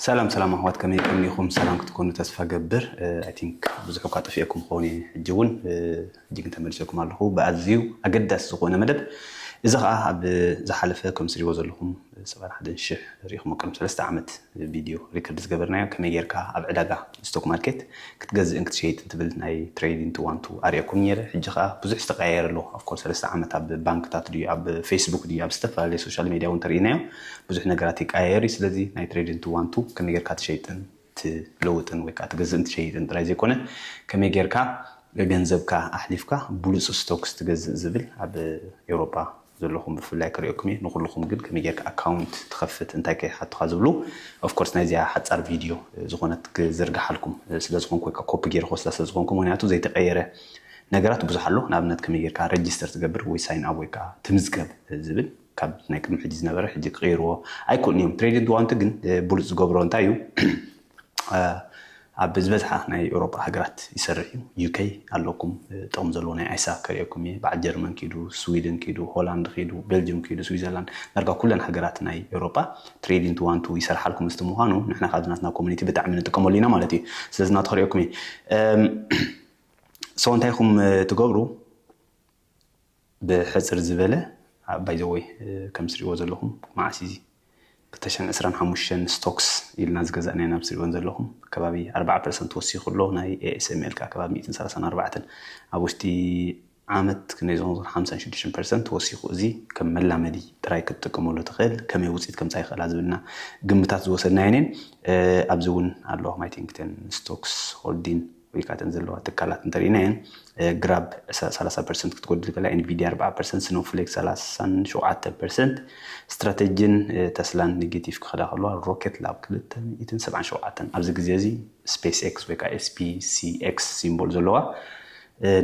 ሰላም ሰላም ኣሕዋት ከመይ ቀኒኹም? ሰላም ክትኮኑ ተስፋ ገብር ኣይ ቲንክ ብዙሕ እኳ ጠፊኤኩም ክኸውን እየ ሕጂ እውን ሕጂ ግን ተመልሰኩም ኣለኹ ብኣዝዩ ኣገዳሲ ዝኾነ መደብ እዚ ከዓ ኣብ ዝሓለፈ ከም ስሪዎ ዘለኹም ሰበር ሓደ ሽሕ ሪኢኹሞ ቅድሚ ሰለስተ ዓመት ቪድዮ ሪከርድ ዝገበርናዮ ከመይ ጌርካ ኣብ ዕዳጋ ስቶክ ማርኬት ክትገዝእን ክትሸይጥን ትብል ናይ ትሬዲን ቱ ዋን ቱ ኣርኤኩም ኔረ ሕጂ ከኣ ብዙሕ ዝተቀያየረ ኣሎ ኣፍኮርስ ሰለስተ ዓመት ኣብ ባንክታት ድዩ ኣብ ፌስቡክ ድዩ ኣብ ዝተፈላለየ ሶሻል ሜድያ ውን ተርኢናዮ ብዙሕ ነገራት ይቀያየር እዩ ስለዚ ናይ ትሬዲን ቱ ዋን ቱ ከመይ ጌርካ ትሸይጥን ትለውጥን ወይ ከኣ ትገዝእን ትሸይጥን ጥራይ ዘይኮነ ከመይ ጌርካ ገንዘብካ ኣሕሊፍካ ብሉጽ ስቶክስ ትገዝእ ዝብል ኣብ ኤውሮጳ ዘለኹም ብፍላይ ክርእየኩም እየ ንኹልኹም ግን ከመይ ጌርካ ኣካውንት ትኸፍት እንታይ ከይሓቱኻ ዝብሉ ኦፍ ኮርስ ናይዚኣ ሓጻር ቪድዮ ዝኾነት ክዝርግሓልኩም ስለ ዝኾንኩ ወይ ከኣ ኮፒ ጌረ ክወስዳ ስለ ዝኾንኩ ምክንያቱ ዘይተቀየረ ነገራት ብዙሕ ኣሎ ንኣብነት ከመይ ጌርካ ረጅስተር ትገብር ወይ ሳይን ኣብ ወይ ከኣ ትምዝገብ ዝብል ካብ ናይ ቅድሚ ሕጂ ዝነበረ ሕጂ ክቅይርዎ ኣይክእሉን እዮም። ትሬድንት ዋንት ግን ብሉጽ ዝገብሮ እንታይ እዩ ኣብ ዝበዝሓ ናይ ኤውሮጳ ሃገራት ይሰርሕ እዩ። ዩከይ ኣለኩም ጥቕሚ ዘለዎ ናይ ኣይሳ ከርእየኩም እየ። በዓል ጀርመን ኪዱ፣ ስዊድን ኪዱ፣ ሆላንድ ኪዱ፣ ቤልጅም ኪዱ፣ ስዊዘርላንድ ዳርጋ ኩለን ሃገራት ናይ ኤውሮጳ ትሬድንት ዋንቱ ይሰርሓልኩም እስቲ ምዃኑ ንሕና ካብዚ ናትና ኮሚኒቲ ብጣዕሚ ንጥቀመሉ ኢና ማለት እዩ። ስለዚ ናቱ ከርእየኩም እየ። ሰው እንታይ ኢኹም ትገብሩ? ብሕጽር ዝበለ ባይ ዘ ወይ ከም ትሪእዎ ዘለኹም መዓስ ኢዚ ክልተ ሽሕን ዕስራን ሓሙሽተን ስቶክስ ኢልና ዝገዛእናዮ ናብ ትሪእዎን ዘለኹም ከባቢ ኣርባዓ ፐርሰንት ወሲኹ ኣሎ ናይ ኤኤስኤምኤል ከኣ ከባቢ ሚእትን ሰላሳን ኣርባዕተን ኣብ ውሽጢ ዓመት ክንደይ ዝኾኑ ሓምሳን ሽዱሽተን ፐርሰንት ወሲኹ እዚ ከም መላመዲ ጥራይ ክትጥቀመሉ ትኽእል ከመይ ውጽኢት ከምጻእ ይኽእላ ዝብልና ግምታት ዝወሰድናየን እየን ኣብዚ እውን ኣሎ ማይ ቲንግተን ስቶክስ ሆልዲን ኢልካ እተን ዘለዋ ትካላት እንተሪኢናየን ግራብ ሰላሳ ፐርሰንት ክትጎድል ከላ ኤንቪድያ ኣርብዓ ፐርሰንት ስኖፍሌክ ሰላሳን ሸውዓተ ፐርሰንት ስትራተጂን ተስላን ኔጌቲቭ ክኸዳ ከለዋ ሮኬት ላብ ክልተ ሚእትን ሰብዓን ሸውዓተን ኣብዚ ግዜ እዚ ስፔስ ኤክስ ወይ ከዓ ኤስፒሲኤክስ ሲምቦል ዘለዋ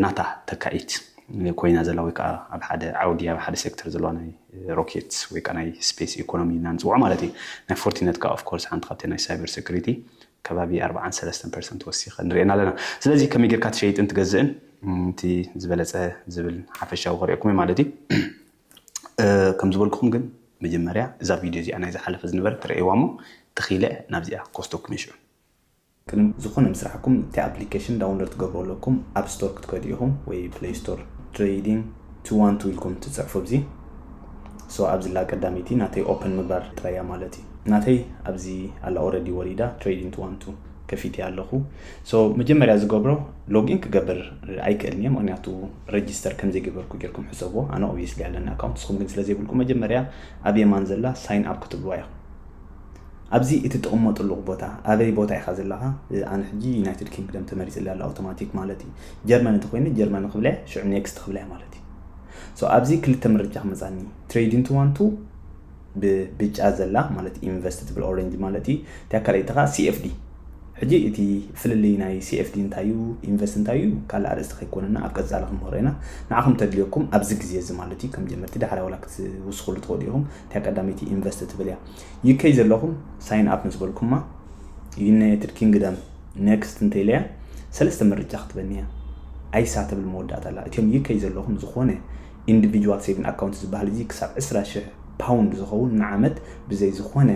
ናታ ተካኢት ኮይና ዘላ ወይ ከዓ ኣብ ሓደ ዓውዲ ኣብ ሓደ ሴክተር ዘለዋ ናይ ሮኬት ወይ ከዓ ናይ ስፔስ ኢኮኖሚ ኢና ንፅውዖ ማለት እዩ ናይ ፎርቲነት ከዓ ኦፍኮርስ ሓንቲ ካብቲ ናይ ሳይበር ሴኩሪቲ ከባቢ ኣርብዓን ሰለስተን ፐርሰንት ወሲኸን ንሪኤን ኣለና። ስለዚ ከመይ ጌርካ ትሸይጥን ትገዝእን እቲ ዝበለፀ ዝብል ሓፈሻዊ ከሪኦኩም እየ ማለት እዩ። ከም ዝበልኩኹም ግን መጀመርያ እዛ ቪድዮ እዚኣ ናይ ዝሓለፈ ዝነበረት ርኣይዋ እሞ ተኺለ ናብዚኣ ክወስደኩም እየ ሽዑ። ቅድሚ ዝኾነ ምስራሕኩም እቲ ኣፕሊኬሽን ዳውንሎድ ክትገብሩ ኣለኩም። ኣብ ስቶር ክትከዱ ኢኹም ወይ ፕለይ ስቶር። ትሬይዲንግ። to want to ኢልኩም ትጽሕፉ ኣብዚ so ኣብዚ ኣላ ቀዳመይቲ ናተይ open ምግባር ጥራይ እያ ማለት እዩ ናተይ ኣብዚ ኣላ already ወሪዳ trading to want to ከፊተያ ኣለኹ so መጀመርያ ዝገብሮ login ክገብር ኣይክእልን እየ ምክንያቱ register ከም ዘይገበርኩ ጌርኩም ሕሰብዎ ኣነ obviously ኣለኒ account ንስኹም ግን ስለ ዘይብልኩም መጀመርያ ኣብ የማን ዘላ sign up ክትብልዋ ኢኹም ኣብዚ እትጥቕመጥሉ ቦታ ኣበይ ቦታ ኢኻ ዘለኻ ኣነ ሕጂ ዩናይትድ ኪንግደም ተመሪጽለይ ኣሎ ኣውቶማቲክ ማለት እዩ ጀርመን እንተኾይኑ ጀርመን ክብለ ሽዑ ኔክስት ክብለ ማለት እዩ ሶ ኣብዚ ክልተ ምርጫ ክመጻኒ ትሬድ ኢንቱ ዋን ቱ ብብጫ ዘላ ማለት ኢንቨስት ትብል ኦሬንጅ ማለት እዩ እቲያ ካልኣይቲ ከዓ ሲኤፍዲ ሕጂ እቲ ፍልልይ ናይ ሲኤፍዲ እንታይ እዩ ኢንቨስት እንታይ እዩ ካልእ ኣርእስቲ ከይኮነና ኣብ ቀጻሊ ክንምህሮ ኢና ንዓኹም ተድልየኩም ኣብዚ ግዜ እዚ ማለት እዩ ከም ጀመርቲ ዳሕራይ ዋላ ክትውስኽሉ ትኽእሉ ኢኹም እቲያ ቀዳመይቲ ኢንቨስት ትብል እያ ዩከይ ዘለኹም ሳይን ኣፕ ምስ በልኩማ ዩናይትድ ኪንግደም ኔክስት እንተኢለያ ሰለስተ ምርጫ ክትበኒ እያ ኣይሳ ትብል መወዳእታ ኣላ እትዮም ዩከይ ዘለኹም ዝኾነ ኢንዲቪጁዋል ሴቪን ኣካውንት ዝበሃል እዚ ክሳብ 20 ሽሕ ፓውንድ ዝኸውን ንዓመት ብዘይ ዝኾነ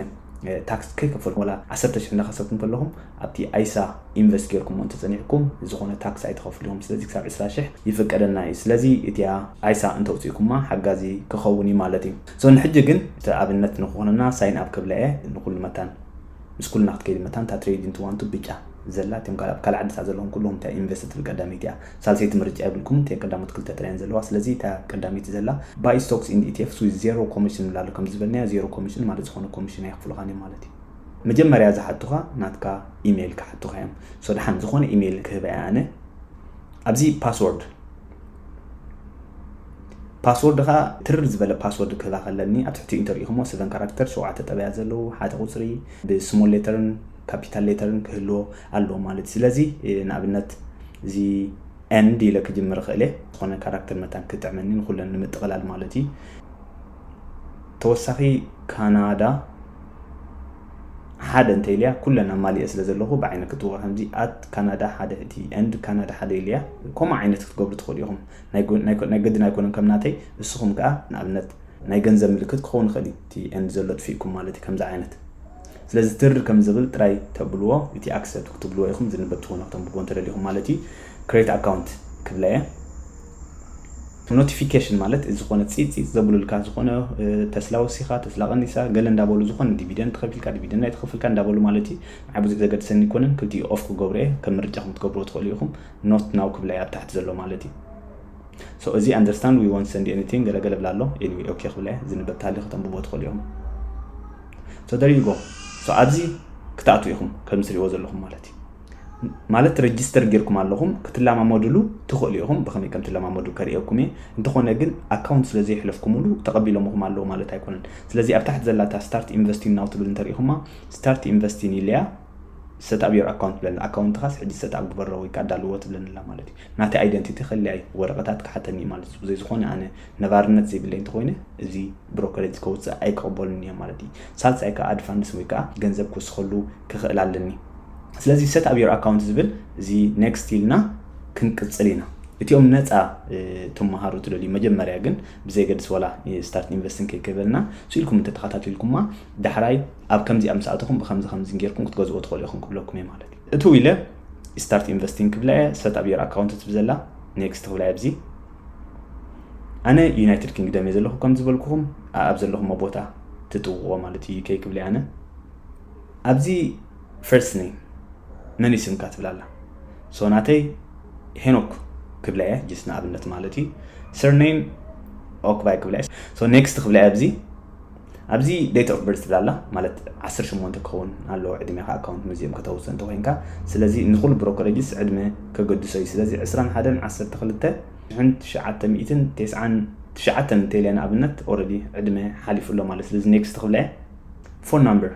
ታክስ ከይከፈልኩም ወላ 10 ሽሕ እንዳኸሰብኩም ከለኹም ኣብቲ ኣይሳ ኢንቨስት ጌርኩሞ እንተጸኒዕኩም ዝኾነ ታክስ ኣይትኸፍሉ ኢኹም ስለዚ ክሳብ 20 ሽሕ ይፍቀደልና እዩ ስለዚ እቲያ ኣይሳ እንተውጺእኩማ ሓጋዚ ክኸውን እዩ ማለት እዩ ሶኒ ሕጂ ግን እቲ ኣብነት ንክኮነና ሳይን ኣብ ክብላ'የ ንኩሉ መታን ምስ ኩልና ክትከይዲ መታን እታ ትሬድ ኢንቱ ዋንቱ ብጫ ዘላ እቶም ካልእ ኣብ ካልእ ዓድታት ዘለኩም ኩሉኩም እታ ኢንቨስት ትብል ቀዳመይቲ እያ ሳልሰይቲ ምርጫ የብልኩምን እተን ቀዳሞት ክልተ ጥራይ እየን ዘለዋ ስለዚ እታ ቀዳመይቲ ዘላ ባይ ስቶክስ ኢንድ ኢቲኤፍስ ዊዝ ዜሮ ኮሚሽን ንብላ ኣሎ ከምዚ ዝበልናዮ ዜሮ ኮሚሽን ማለት ዝኮነ ኮሚሽን ኣይክፍሉካን እዮም ማለት እዩ መጀመርያ ዝሓቱካ ናትካ ኢሜይል ክሓቱካ እዮም ሶ ድሓን ዝኮነ ኢሜይል ክህባ እየ ኣነ ኣብዚ ፓስወርድ ፓስወርድ ከኣ ትርር ዝበለ ፓስወርድ ክህባኽ ኣለኒ ኣብ ትሕቲኡ እንተሪኢኹሞ ሰቨን ካራክተር ሸውዓተ ጠበያት ዘለዉ ሓደ ቁጽሪ ብስሞል ሌተርን ካፒታል ሌተርን ክህልዎ ኣለዎ ማለት ስለዚ ንኣብነት እዚ ኤንድ ኢለ ክጅምር ክእል እየ ዝኾነ ካራክተር መታን ክጥዕመኒ ንኩለን ንምጥቕላል ማለት እዩ ተወሳኺ ካናዳ ሓደ እንተ ኢልያ ኩለን ኣማሊኤ ስለ ዘለኩ ብዓይኒ ክትዋ ከምዚ ኣት ካናዳ ሓደ እቲ and ካናዳ ሓደ ኢልያ ኮምኡ ዓይነት ክትገብሩ ትክእሉ ኢኩም ናይ ናይ ግድን ኣይኮነን ከም ናተይ እስኩም ከኣ ንኣብነት ናይ ገንዘብ ምልክት ክከውን ይክእል እዩ እቲ and ዘሎ ኣጥፊእኩም ማለት እዩ ከምዚ ዓይነት ስለዚ ትር ከም ዝብል ጥራይ ተብልዎ እቲ accept ክትብልዎ ኢኩም ዝንበብ ትኮኑ ክተንብብዎ እንተ ደሊኩም ማለት እዩ create account ክብላ እየ ኖቲፊኬሽን ማለት ዝኾነ ፂፅ ፂፅ ዘብሉልካ ዝኾነ ተስላ ወሲኻ ተስላ ቀኒሳ ገለ እንዳበሉ ዝኾነ ዲቪደንድ ተኸፊልካ ዲቪደንድ ኣይተኸፍልካ እንዳበሉ ማለት እዩ ንዓ ብዙሕ ዘገድሰኒ ኣይኮነን ክልቲኡ ኦፍ ክገብሮ እየ ከም ምርጫኹም ክትገብርዎ ትኽእሉ ኢኹም ኖት ናው ክብላ እየ ኣብ ታሕቲ ዘሎ ማለት እዩ ሶ እዚ ኣንደርስታንድ ዊ ወንት ሰንድ ኤኒቲንግ ገለገለ ብላ ኣሎ ኤኒዌይ ኦኬ ክብላ እየ ዝንበብ ተሃልዩ ከተንብቦ ትኽእሉ ኢኹም ሶ ደር ዩ ጎ ሶ ኣብዚ ክትኣትዉ ኢኹም ከም ዝሪእዎ ዘለኹም ማለት እዩ ማለት ረጅስተር ጌርኩም ኣለኹም ክትለማመድሉ ትኽእሉ ኢኹም ብኸመይ ከም ትለማመዱ ከርእየኩም እየ እንተኾነ ግን ኣካውንት ስለ ዘይሕለፍኩምሉ ተቐቢሎምኹም ኣለዉ ማለት ኣይኮነን ስለዚ ኣብ ታሕቲ ዘላታ ስታርት ኢንቨስቲን ናው ትብል እንተሪኢኹማ ስታርት ኢንቨስቲን ኢለያ ሰትኣብ ዮር ኣካውንት ብለኒ ኣካውንትኻስ ሕጂ ሰትኣብ ግበሮ ወይ ከዓ ዳልዎ ትብለኒ ኣላ ማለት እዩ ናተይ ኣይደንቲቲ ከለያ እዩ ወረቐታት ክሓተኒ እዩ ማለት እዩ ብዘይ ዝኾነ ኣነ ነባርነት ዘይብለይ እንተኮይነ እዚ ብሮከሬጅ ከውፅእ ኣይክቕበሉን እየ ማለት እዩ ሳልሳይ ከዓ ኣድፋንስ ወይ ከዓ ገንዘብ ክውስኸሉ ክኽእል ኣለኒ ስለዚ set up your account ዝብል እዚ next ኢልና ክንቅጽል ኢና። እቲኦም ነጻ ትመሃሩ ትደልዩ መጀመርያ ግን ብዘየገድስ ዋላ start investing ከይከበልና ስኢልኩም እንተተኸታቲልኩማ ዳሕራይ ኣብ ከምዚኣ ምስ ኣተኹም ብከምዚ ከምዚ ጌርኩም ክትገዝኦ ትኽእሉ ኢኹም ክብለኩም እየ ማለት እዩ። እቱ ኢለ start investing ክብላ እየ set up your account ትብል ዘላ next ክብላ እየ ኣብዚ ኣነ ዩናይትድ ኪንግደም እየ ዘለኹ ከም ዝበልኩኹም ኣብ ዘለኹሞ ቦታ ትጥውቕዎ ማለት እዩ ዩኬ ክብለ ኣነ ኣብዚ First name መን እዩ ስምካ ትብል ኣላ so ናተይ ሄኖክ ክብላ እየ just ንኣብነት ማለት እዩ Sur name ኦክባይ ክብላ እየ so next ክብላ እየ ኣብዚ ኣብዚ date of birth ትብል ኣላ ማለት ዓሰርተ ሸሞንተ ክኸውን ኣለዎ ዕድሜኻ ኣካውንት መዚኦም ከተውፅእ እንተኮይንካ ስለዚ ንኩሉ ብሮከረጅስ ዕድመ ከገድሶ እዩ ስለዚ ዕስራን ሓደን ዓሰርተ ክልተ ሽሕን ትሽዓተ ሚእትን ቴስዓን ትሽዓተን እንተኢለ ንኣብነት ኦልሬዲ ዕድመ ሓሊፉ ኣሎ ማለት ስለዚ next ክብላ እየ ፎን ናምበር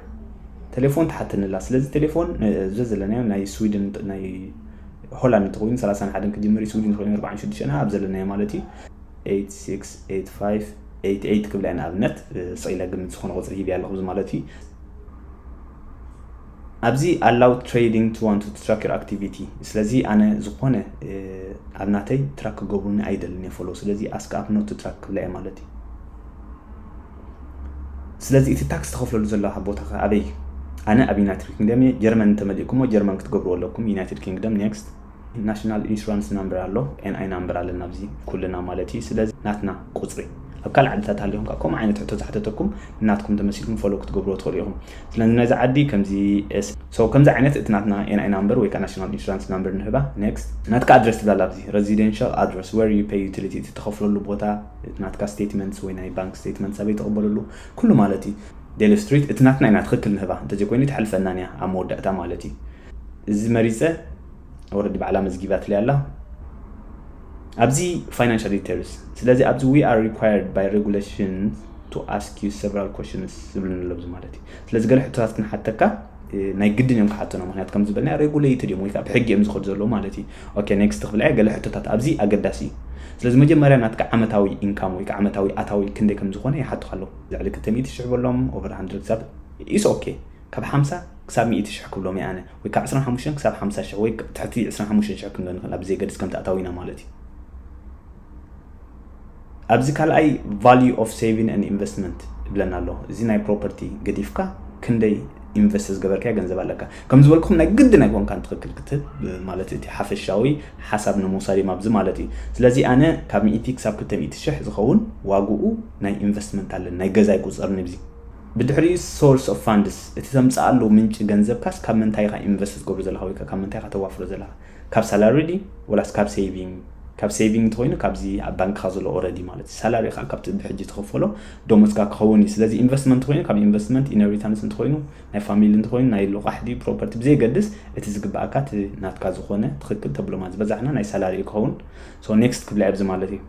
ቴሌፎን ትሓተኒ ኣላ ስለዚ ቴሌፎን እዚ ዘለናዮ ናይ ስዊድን ናይ ሆላንድ እንተኮይኑ 31 ክጅምር እዩ ስዊድን እንተኮይኑ 46 ና ኣብ ዘለናዮ ማለት እዩ 868588 ክብላ ኢና ኣብነት ስቂለ ግምት ዝኮነ ቁፅሪ ሂብያ ኣለኹ እዚ ማለት እዩ ኣብዚ ኣላው ትሬዲንግ ቱ ዋን ቱ ትራክ ዩር ኣክቲቪቲ ስለዚ ኣነ ዝኾነ ኣብ ናተይ ትራክ ክገብሩኒ ኣይደልን እየ ፎሎ ስለዚ ኣስክ ኣፕ ኖት ትራክ ክብላ እየ ማለት እዩ ስለዚ እቲ ታክስ ተኸፍለሉ ዘለኻ ቦታ ከ ኣበይ እዩ? ኣነ ኣብ ዩናይትድ ኪንግደም እየ ጀርመን እንተመሊእኩሞ ጀርመን ክትገብርዎ ኣለኩም ዩናይትድ ኪንግደም next ናሽናል ኢንሹራንስ ናምበር ኣሎ NI ናምበር ኣለና ኣብዚ ኩልና ማለት እዩ ስለዚ ናትና ቁፅሪ ኣብ ካልእ ዓድታት ሃሊኹም ከዓ ከምኡ ዓይነት ሕቶ ዝሓተተኩም ናትኩም ተመሲልኩም ፎሎ ክትገብርዎ ትኽእሉ ኢኹም ስለዚ ነዚ ዓዲ ከምዚ ሰው ከምዚ ዓይነት እቲ ናትና NI ናምበር ወይ ከዓ ናሽናል ኢንሹራንስ ናምበር ንህባ next ናትካ ኣድረስ ትብላላ ኣብዚ ረዚደንሻል ኣድረስ where you pay utility እቲ ተኸፍለሉ ቦታ እቲ ናትካ ስቴትመንትስ ወይ ናይ ባንክ ስቴትመንትስ ኣበይ ትቕበለሉ? ኩሉ ማለት እዩ። ዴል ስትሪት እቲ ናትና ኢና ትኽክል ንህባ እንተዘይኮይኑ ኣይትሓልፈናን እያ ኣብ መወዳእታ ማለት እዩ። እዚ መሪጸ ኦረዲ ባዕላ መዝጊባትለይ ኣላ። ኣብዚ ፋይናንሻል ዲቴልስ ስለዚ ኣብዚ ዊ ኣር ሪኳየርድ ባይ ሬጉሌሽን ቱ ኣስክ ዩ ሰቨራል ኮሽንስ ዝብልን ኣሎ እዚ ማለት እዩ። ስለዚ ገለ ሕቶታት ክንሓተካ ናይ ግድን እዮም ክሓተኖ ምክንያት ከም ዝበልና ሬጉሌትድ እዮም ወይ ከዓ ብሕጊ እዮም ዝኸዱ ዘለዉ ማለት እዩ ኦኬ ኔክስት ክብላ እየ ገለ ሕቶታት ኣብዚ ኣገዳሲ እዩ ስለዚ መጀመርያ ናትካ ዓመታዊ ኢንካም ወይ ከዓ ዓመታዊ ኣታዊ ክንደይ ከም ዝኾነ ይሓቱካ ኣለዉ ልዕሊ ክልተ ሚእቲ ሽሕ በሎም ኦቨር ሃንድረድ ክሳብ ኢስ ኦኬ ካብ ሓምሳ ክሳብ ሚእቲ ሽሕ ክብሎም እየ ኣነ ወይ ካብ ዕስራን ሓሙሽተን ክሳብ ሓምሳ ሽሕ ወይ ትሕቲ ዕስራን ሓሙሽተን ሽሕ ክንዶ ንኽእል ኣብ ዘየገድስ ከምቲ ኣታዊና ማለት እዩ ኣብዚ ካልኣይ ቫልዩ ኦፍ ሴቪን ን ኢንቨስትመንት ይብለና ኣሎ እዚ ናይ ፕሮፐርቲ ገዲፍካ ክንደይ ኢንቨስት ዝገበርካዮ ገንዘብ ኣለካ ከም ዝበልኩም ናይ ግድን ኣይኮንካን ትክክል ክትህብ ማለት እቲ ሓፈሻዊ ሓሳብ ንምውሳድ እዮም ኣብዚ ማለት እዩ ስለዚ ኣነ ካብ ሚእቲ ክሳብ ክልተ ሚእቲ ሽሕ ዝኸውን ዋግኡ ናይ ኢንቨስትመንት ኣለን ናይ ገዛ ይቁፀር ንብዚ ብድሕሪኡ ሶርስ ኦፍ ፋንድስ እቲ ተምፅኣሉ ምንጪ ገንዘብካስ ካብ ምንታይ ኢካ ኢንቨስት ትገብሮ ዘለካ ወይ ካብ ምንታይ ኢካ ተዋፍሮ ዘለካ ካብ ሳላሪ ድዩ ወላስ ካብ ሴቪንግ ካብ ሴቪንግ እንተኮይኑ ካብዚ ኣብ ባንክካ ዘሎ ኦረዲ ማለት እዩ ሳላሪ ከዓ ካብቲ ብሕጂ ትኸፈሎ ደሞዝካ ክኸውን እዩ ስለዚ ኢንቨስትመንት ኮይኑ ካብ ኢንቨስትመንት ኢነሪታንስ እንተኮይኑ ናይ ፋሚሊ እንተኮይኑ ናይ ልቓሕ ድዩ ፕሮፐርቲ ብዘይገድስ እቲ ዝግበኣካ እቲ ናትካ ዝኾነ ትኽክል ተብሎማ ዝበዛሕና ናይ ሳላሪ እዩ ክኸውን ሶ ኔክስት ክብላ ኣብዚ ማለት እዩ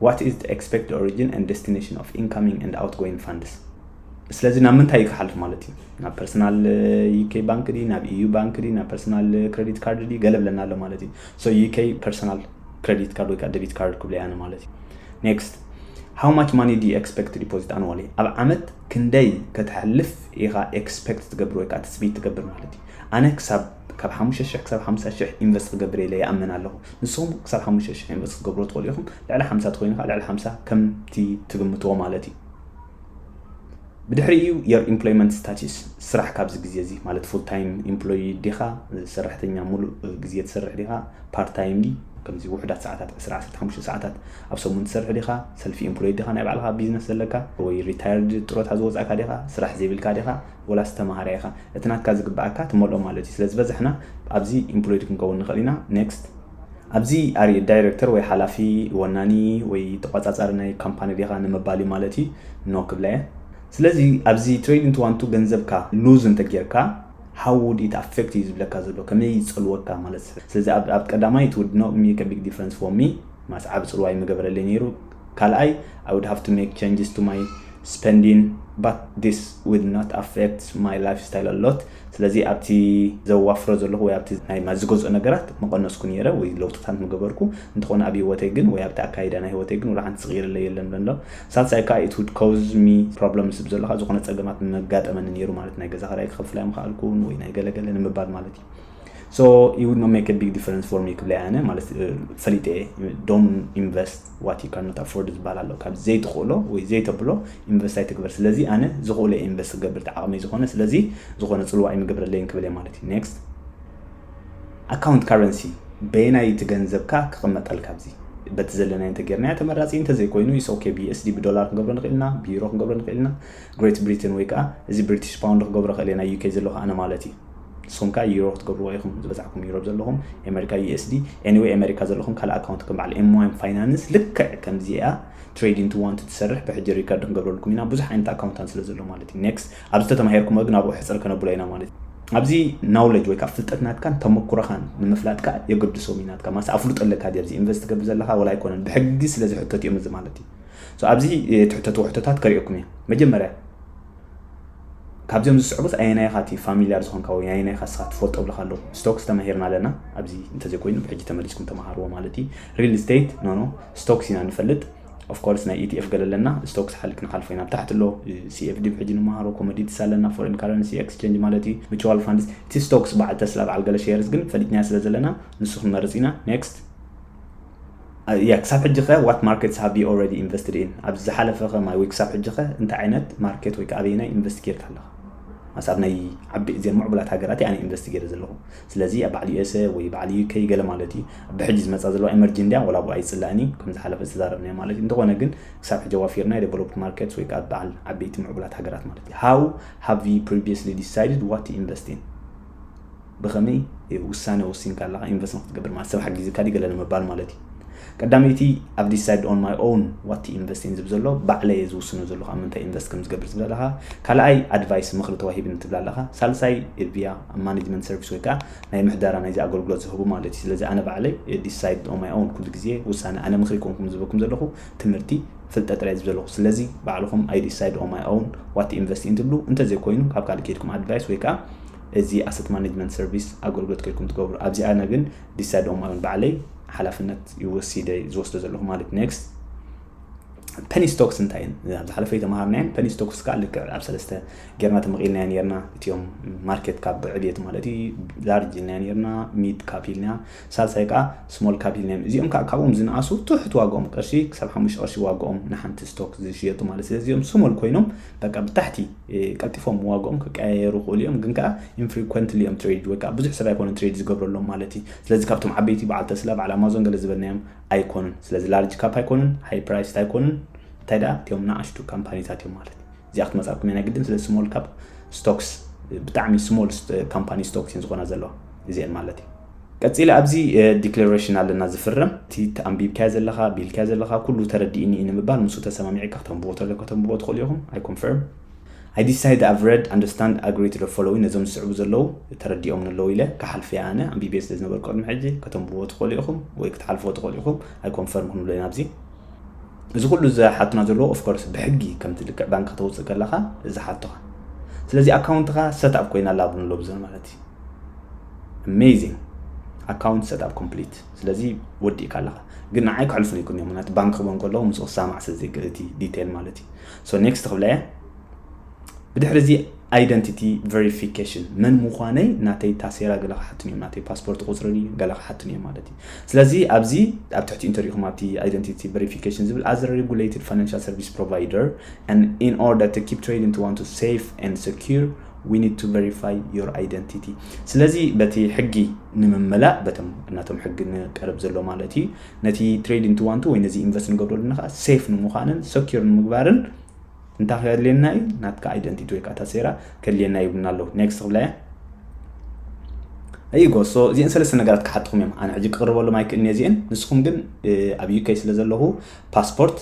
What is the expected origin and destination of incoming and outgoing funds? ስለዚ ናብ ምንታይ እዩ ክሓልፍ ማለት እዩ ናብ ፐርሰናል ዩኬ ባንክ ዲ ናብ ኢዩ ባንክ ዲ ናብ ፐርሰናል ክሬዲት ካርድ ዲ ገለ ብለና ኣሎ ማለት እዩ ሶ ዩኬ ፐርሰናል ክሬዲት ካርድ ወይ ከዓ ደቢት ካርድ ክብለ ያነ ማለት እዩ ኔክስት ሃው ማች ማኒ ዲ ኤክስፔክት ዲፖዚት ኣንዋሊ ኣብ ዓመት ክንደይ ከተሕልፍ ኢኻ ኤክስፔክት ትገብር ወይ ከዓ ትፅቢት ትገብር ማለት እዩ ኣነ ክሳብ ካብ ሓሙሽተ ሽሕ ክሳብ ሓምሳ ሽሕ ኢንቨስት ክገብር ኢለ ይኣምን ኣለኹ ንስኹም ክሳብ ሓሙሽተ ሽሕ ኢንቨስት ክገብሮ ትኽእሉ ኢኹም ልዕሊ ሓምሳ ትኮይኑ ከዓ ልዕሊ ሓምሳ ከምቲ ትግምትዎ ማለት እዩ ብድሕሪኡ የር ኢምፕሎይመንት ስታቲስ ስራሕ ካብዚ ግዜ እዚ ማለት ፉል ታይም ኢምፕሎይ ዲኻ ሰራሕተኛ ሙሉእ ግዜ ትሰርሕ ዲኻ ፓርት ታይም ዲ ከምዚ ውሑዳት ሰዓታት 115 ሰዓታት ኣብ ሰሙን ትሰርሕ ዲኻ ሰልፊ ኢምፕሎይ ዲኻ ናይ ባዕልኻ ቢዝነስ ዘለካ ወይ ሪታየርድ ጥሮታ ዝወፃእካ ዲኻ ስራሕ ዘይብልካ ዲኻ ወላስ ተምሃራይ ኢኻ እቲ ናትካ ዝግበኣካ ትመልኦ ማለት እዩ ስለ ዝበዛሕና ኣብዚ ኢምፕሎይድ ክንከውን ንኽእል ኢና ኔክስት ኣብዚ ኣሪ ዳይረክተር ወይ ሓላፊ ወናኒ ወይ ተቋጻጻሪ ናይ ካምፓኒ ዲኻ ንምባል እዩ ማለት እዩ ኖ ክብላ እየ ስለዚ ኣብዚ ትሬድ ኢንቱ ዋን ቱ ገንዘብካ ሉዝ እንተ ጌርካ ሃው ውድ ኢት ኣፌክት እዩ ዝብለካ ዘሎ ከመይ ይጸልወካ ማለት ስለዚ ኣብ ቀዳማይ ኢት ውድ ኖት ሜክ ቢግ ዲፍረንስ ፎር ሚ ማስ ዓቢ ጽልዋ ኣይምገበረለይ ነይሩ ካልኣይ ኣይ ውድ ሃቭ ቱ ሜክ ቸንጅስ ቱ ማይ ስፐንዲን ባት ዲስ ውድ ኖት ኣፌክት ማይ ላይፍ ስታይል ኣሎት ስለዚ ኣብቲ ዘዋፍሮ ዘለኹ ወይ ኣብቲ ናይ ማት ዝገዝኦ ነገራት ምቐነስኩ ነይረ ወይ ለውጥታት ምገበርኩ፣ እንተኾነ ኣብ ህይወተይ ግን ወይ ኣብቲ ኣካይዳ ናይ ህይወተይ ግን ወላሓንቲ ዝቕይርለይ የለን ብለንሎ። ሳልሳይ ከኣ ኢት ውድ ኮዝ ሚ ፕሮብለምስ ብዘሎካ ዝኾነ ጸገማት ምመጋጠመኒ ነይሩ ማለት ናይ ገዛ ክራይ ክኸፍል ኣይምኸኣልኩን ወይ ናይ ገለ ገለ ንምባል ማለት እዩ። ሶ ኢት ውድ ኖት ሜክ ቢግ ዲፈረንስ ፎር ሚ ክብለያ ኣነ ማለት ፈሊጠ እየ ዶን ኢንቨስት what you cannot afford ዝባሃል ኣሎ ካብ ዘይትክእሎ ወይ ዘይተብሎ ኢንቨስት ኣይትግበር ስለዚ ኣነ ዝክእሎ እየ ኢንቨስት ክገብር እቲ ዓቅመይ ዝኮነ ስለዚ ዝኮነ ፅልዋ ኣይምገብረለይን ክብል እየ ማለት እዩ next ኣካውንት ካረንሲ በየናይ እቲ ገንዘብካ ክቅመጠልካ ኣብዚ በቲ ዘለናዮ እንተጌርናዮ ተመራፂ እንተዘይኮይኑ ኢስ ኦኬ ቢኤስዲ ብዶላር ክንገብሮ ንኽእል ኢና ብዩሮ ክንገብሮ ንኽእል ኢና ግሬት ብሪትን ወይ ከዓ እዚ ብሪቲሽ ፓውንድ ክገብሮ ክእል ኢና ዩኬ ዘለኹ ኣነ ማለት እዩ ንስኩም ከኣ ዩሮ ክትገብርዎ ኢኩም ዝበጻሕኩም ዩሮብ ዘለኩም ኤመሪካ ዩኤስዲ ኤኒወይ ኤመሪካ ዘለኩም ካልእ ኣካውንት ከም በዓል ኤምዋይም ፋይናንስ ልክዕ ከምዚኣ ትሬድ ኢንቱ ዋንት ትሰርሕ ብሕጂ ሪከርድ ክንገብረልኩም ኢና ብዙሕ ዓይነት ኣካውንታን ስለ ዘሎ ማለት እዩ ኔክስት ኣብዚ ተተማሂርኩሞ ግን ኣብኡ ሕጽር ከነብሎ ኢና ማለት እዩ ኣብዚ ናውለጅ ወይ ካብ ፍልጠት ናትካን ተመኩሮኻን ንምፍላጥ ከ የገድሶም እዩ ናትካ ማስ ኣፍልጦ ኣለካ ድዩ ኣብዚ ኢንቨስት ትገብር ዘለካ ወላ ኣይኮነን ብሕጊ ስለ ዝሕተት እዮም እዚ ማለት እዩ ኣብዚ ትሕተትዎ ሕቶታት ከሪኦኩም እየ መጀመርያ ካብዚኦም ዝስዕቡስ ኣየናይ ኢኻ እቲ ፋሚልያር ዝኾንካ ወይ ኣየናይ ኢኻ እስኻ ትፈልጦ እብልኻ ኣለኹ። ስቶክስ ተማሂርና ኣለና ኣብዚ እንተዘይኮይኑ ብሕጂ ተመሊስኩም ተማሃርዎ ማለት እዩ። ሪል ስቴት ኖኖ ስቶክስ ኢና ንፈልጥ ኦፍ ኮርስ ናይ ኢቲኤፍ ገለ ኣለና ስቶክስ ሓልክ ንሓልፎ ኢና። ብታሕቲ ኣሎ ሲኤፍዲ ብሕጂ ንመሃሮ ኮሞዲቲስ ኣለና ፎሬን ካረንሲ ኤክስቼንጅ ማለት እዩ ምቹዋል ፋንድስ እቲ ስቶክስ በዓል ተስላ በዓል ገለ ሼርስ ግን ፈሊጥናዮ ስለዘለና ንሱ ክንመርጽ ኢና። ኔክስት። እያ ክሳብ ሕጂ ከ what markets have you already invested in ኣብዚ ዝሓለፈ ከማይ ወይ ክሳብ ሕጂ ከ እንታይ ዓይነት ማርኬት ወይ ከ ኣበየናይ ኢንቨስት ጌርካ ኣለኻ ኣስ ኣብ ናይ ዓቢ እዘን ምዕቡላት ሃገራት ኣነ ኢንቨስት ጌረ ዘለኹ ስለዚ ኣብ በዓል ዩኤስኤ ወይ በዓል ዩከይ ገለ ማለት እዩ ብሕጂ ዝመፃ ዘለዋ ኤመርጂ እንድያ ወላ ብኡ ኣይፅላእን እዩ ከም ዝሓለፈ ዝተዛረብናዮ ማለት እዩ እንተኾነ ግን ክሳብ ሕጂ ዋፊርና ዴቨሎፕድ ማርኬትስ ወይ ከዓ በዓል ዓበይቲ ምዕቡላት ሃገራት ማለት እዩ ሃው ሃቭ ዩ ፕሪቪየስሊ ዲሳይድድ ዋት ኢንቨስት ኢን ብኸመይ ውሳነ ወሲንካ ኣለኻ ኢንቨስት ንክትገብር ማለት ሰብ ሓጊዝካ ድዩ ገለ ንምባል ማለት እዩ ቀዳመይቲ ኣብ ዲሳይድ ኦን ማይ ኦውን ዋት ኢንቨስት ኢን ዝብ ዘሎ ባዕለ እየ ዝውስኖ ዘለኹ ኣብ ምንታይ ኢንቨስት ከም ዝገብር ዝብል ኣለኻ ካልኣይ ኣድቫይስ ምኽሪ ተዋሂብኒ ትብል ኣለኻ ሳልሳይ ቪያ ኣብ ማኔጅመንት ሰርቪስ ወይ ከዓ ናይ ምሕደራ ናይዚ ኣገልግሎት ዝህቡ ማለት እዩ ስለዚ ኣነ ባዕለይ ዲሳይድ ኦን ማይ ኦውን ኩሉ ግዜ ውሳነ ኣነ ምኽሪ ኮንኩም ዝህበኩም ዘለኹ ትምህርቲ ፍልጠት ጥራይ ዝብ ዘለኩ ስለዚ ባዕልኩም I decide on my own what to invest in ትብሉ እንተዘይ ኮይኑ ኣብ ካልእ ከይድኩም advice ወይ ከኣ እዚ asset management service ኣገልግሎት ከይድኩም ትገብሩ ኣብዚ ኣነ ግን decide on my own ባዕለይ ሓላፍነት ይወሲደ ዝወስዶ ዘለኩ ማለት next ፐኒ ስቶክስ እንታይ እየን ኣብ ዝሓለፈ ተምሃርናየን ፐኒ ስቶክስ ከዓ ልክዕ ኣብ ሰለስተ ጌርና ተመቂልናዮ ነርና እትዮም ማርኬት ካብ ዕብየት ማለት እዩ ላርጅ ኢልናዮ ነርና ሚድ ካፕ ኢልና ሳልሳይ ከኣ ስሞል ካብ ዩኒየም እዚኦም ከኣ ካብኦም ዝንኣሱ ትሑት ዋግኦም ቅርሺ ክሳብ ሓሙሽተ ቅርሺ ዋግኦም ንሓንቲ ስቶክ ዝሽየጡ ማለት ስለዚ እዚኦም ስሞል ኮይኖም በቃ ብታሕቲ ቀልጢፎም ዋግኦም ክቀያየሩ ይኽእሉ እዮም ግን ከኣ ኢንፍሪኮንትሊ እዮም ትሬድ ወይ ከኣ ብዙሕ ሰብ ኣይኮነን ትሬድ ዝገብረሎም ማለት እዩ ስለዚ ካብቶም ዓበይቲ በዓል ተስላ በዓል ኣማዞን ገለ ዝበልናዮም ኣይኮኑን ስለዚ ላርጅ ካፕ ኣይኮኑን ሃይ ፕራይስት ኣይኮኑን እንታይ ደኣ እቲኦም ንኣሽቱ ካምፓኒታት እዮም ማለት እዚኣ ክትመፃኩም እየ ናይ ግድን ስለ ስሞል ካፕ ስቶክስ ብጣዕሚ ስሞል ካምፓኒ ስቶክስ እየን ዝኾና ዘለዋ እዚአን ማለት እዩ ቀጺለ ኣብዚ ዲክለረሽን ኣለና ዝፍረም እቲ ኣንቢብካዮ ዘለኻ ቢልካዮ ዘለኻ ኩሉ ተረዲእኒ እዩ ንምባል ምስኡ ተሰማሚዕካ ክተንብቦ ተለካ ከተንብቦ ትኽእሉ ኢኹም ኣይ ኮንፈርም ኣይ ዲሳይድ ኣቭ ረድ ኣንደርስታንድ ኣግሪ ቱ ዘ ፎሎዊን ነዞም ዝስዕቡ ዘለዉ ተረዲኦምኒ ኣለዉ ኢለ ክሓልፍ እየ ኣነ ኣንቢብየ ስለ ዝነበርኩ ቅድሚ ሕጂ ከተንብቦ ትኽእሉ ኢኹም ወይ ክትሓልፍዎ ትኽእሉ ኢኹም ኣይ ኮንፈርም ክንብሎ ኢና ኣብዚ እዚ ኩሉ ዝሓቱና ዘለዎ ኦፍኮርስ ብሕጊ ከምቲ ልክዕ ባንክ ከተውፅእ ከለኻ ዝሓቱኻ ስለዚ ኣካውንትኻ ሰት ኣፕ ኮይና ኣላ ብንሎ ብዘ ማለት ኣሜዚንግ ኣካውንት ሰትኣፕ ኮምፕሊት ስለዚ ወዲእካ ኣለኻ ግን ንዓይ ክሕልፉን ይኩን እዮም ምክንያቱ ባንክ ክበን ከለዎ ምስ ክሳማዕ ስለዘይክእል እቲ ዲቴል ማለት እዩ ሶ ኔክስት ክብላ እየ ብድሕሪ እዚ ኣይደንቲቲ ቨሪፊኬሽን መን ምዃነይ ናተይ ታሴራ ገለ ክሓቱን እዮም ናተይ ፓስፖርት ቁፅሪ ገለ ክሓቱን እዮም ማለት እዩ ስለዚ ኣብዚ ኣብ ትሕቲ ኢንተርኩም ኣብቲ ኣይደንቲቲ ቨሪፊኬሽን ዝብል ኣዘ ሬጉሌትድ ፋይናንሻል ሰርቪስ ፕሮቫይደር ን ኢን ኦርደር ቱ ኪፕ ትሬዲንግ ቱ ዋን ቱ ሴፍ ን ሰኪር We need to verify your identity ስለዚ በቲ ሕጊ ንምመላእ በቶም እናቶም ሕጊ ንቀርብ ዘሎ ማለት እዩ ነቲ ትሬድ ኢንቱ ዋንቱ ወይ ነዚ ኢንቨስት ንገብሮ ኣለና ከዓ ሴፍ ንምዃንን ሰኪር ንምግባርን እንታይ ከድልየና እዩ ናትካ ኣይደንቲቲ ወይ ከዓ ታሴራ ከድልየና ይብሉና ኣለዉ ኔክስት ክብላ እያ ኣይጎ ሶ እዚአን ሰለስተ ነገራት ክሓትኹም እዮም ኣነ ሕጂ ክቕርበሎም ኣይክእልኒ እዚአን ንስኹም ግን ኣብ ዩከይ ስለ ዘለኹ ፓስፖርት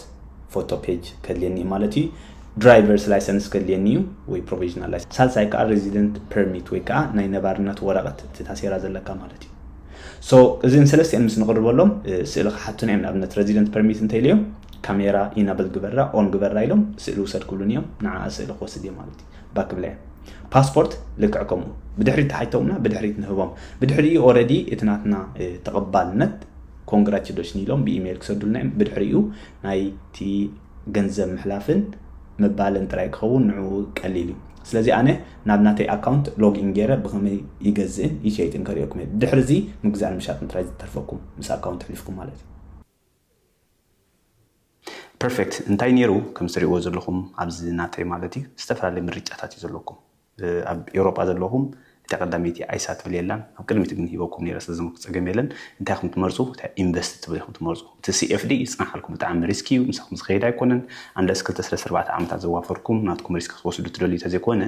ፎቶ ፔጅ ከድልየኒ እዩ ማለት እዩ ድራይቨርስ ላይሰንስ ከድልየኒ እዩ ወይ ፕሮቪዥናል ላይሰንስ ሳልሳይ ከዓ ሬዚደንት ፐርሚት ወይ ከዓ ናይ ነባርነት ወረቀት እቲ ታሴራ ዘለካ ማለት እዩ ሶ እዚን ሰለስቲኤን ምስ ንቕርበሎም ስእሊ ክሓቱና እዮም ንኣብነት ሬዚደንት ፐርሚት እንተኢለዮም ካሜራ ኢናብል ግበራ ኦን ግበራ ኢሎም ስእሊ ውሰድ ክብሉን እዮም ንዓ ስእሊ ክወስድ እየ ማለት እዩ ባክብላ እዮም ፓስፖርት ልክዕ ከምኡ ብድሕሪት ተሓይቶምና ብድሕሪት ንህቦም ብድሕሪኡ ኦረዲ እቲ ናትና ተቐባልነት ኮንግራቹሌሽን ኢሎም ብኢሜይል ክሰዱልና እዮም ብድሕሪኡ ናይቲ ገንዘብ ምሕላፍን ምባልን ጥራይ ክኸውን ንዕኡ ቀሊል እዩ። ስለዚ ኣነ ናብ ናተይ ኣካውንት ሎግ ኢን ጌረ ብኸመይ ይገዝእን ይሸይጥን ከርእየኩም እየ። ድሕሪ እዚ ምግዛእን ምሻጥን ጥራይ ዝተርፈኩም ምስ ኣካውንት ሕሊፍኩም ማለት እዩ። Perfect እንታይ ኔሩ ከምዚ ትሪእዎ ዘለኹም ኣብዚ ናተይ ማለት እዩ ዝተፈላለዩ ምርጫታት እዩ ዘለኩም። ኣብ ኤውሮጳ ዘለኹም እታ ቀዳመይቲ ኣይሳ ትብል የላን ኣብ ቅድሚት ግን ሂበኩም ነይረ ስለዚ ምክ ጸገም የለን እንታይ ኢኹም ትመርጹ እታ ኢንቨስት ትብል ኢኹም ትመርጹ እቲ CFD ይጽናሓልኩም ብጣዕሚ ሪስኪ እዩ ምሳኹም ዝኸይድ ኣይኮነን ኣንለስ ክልተ ስለስተ ኣርባዕተ ዓመታት ዘዋፈርኩም ናትኩም ሪስክ ክትወስዱ ትደልዩ ተዘይኮነ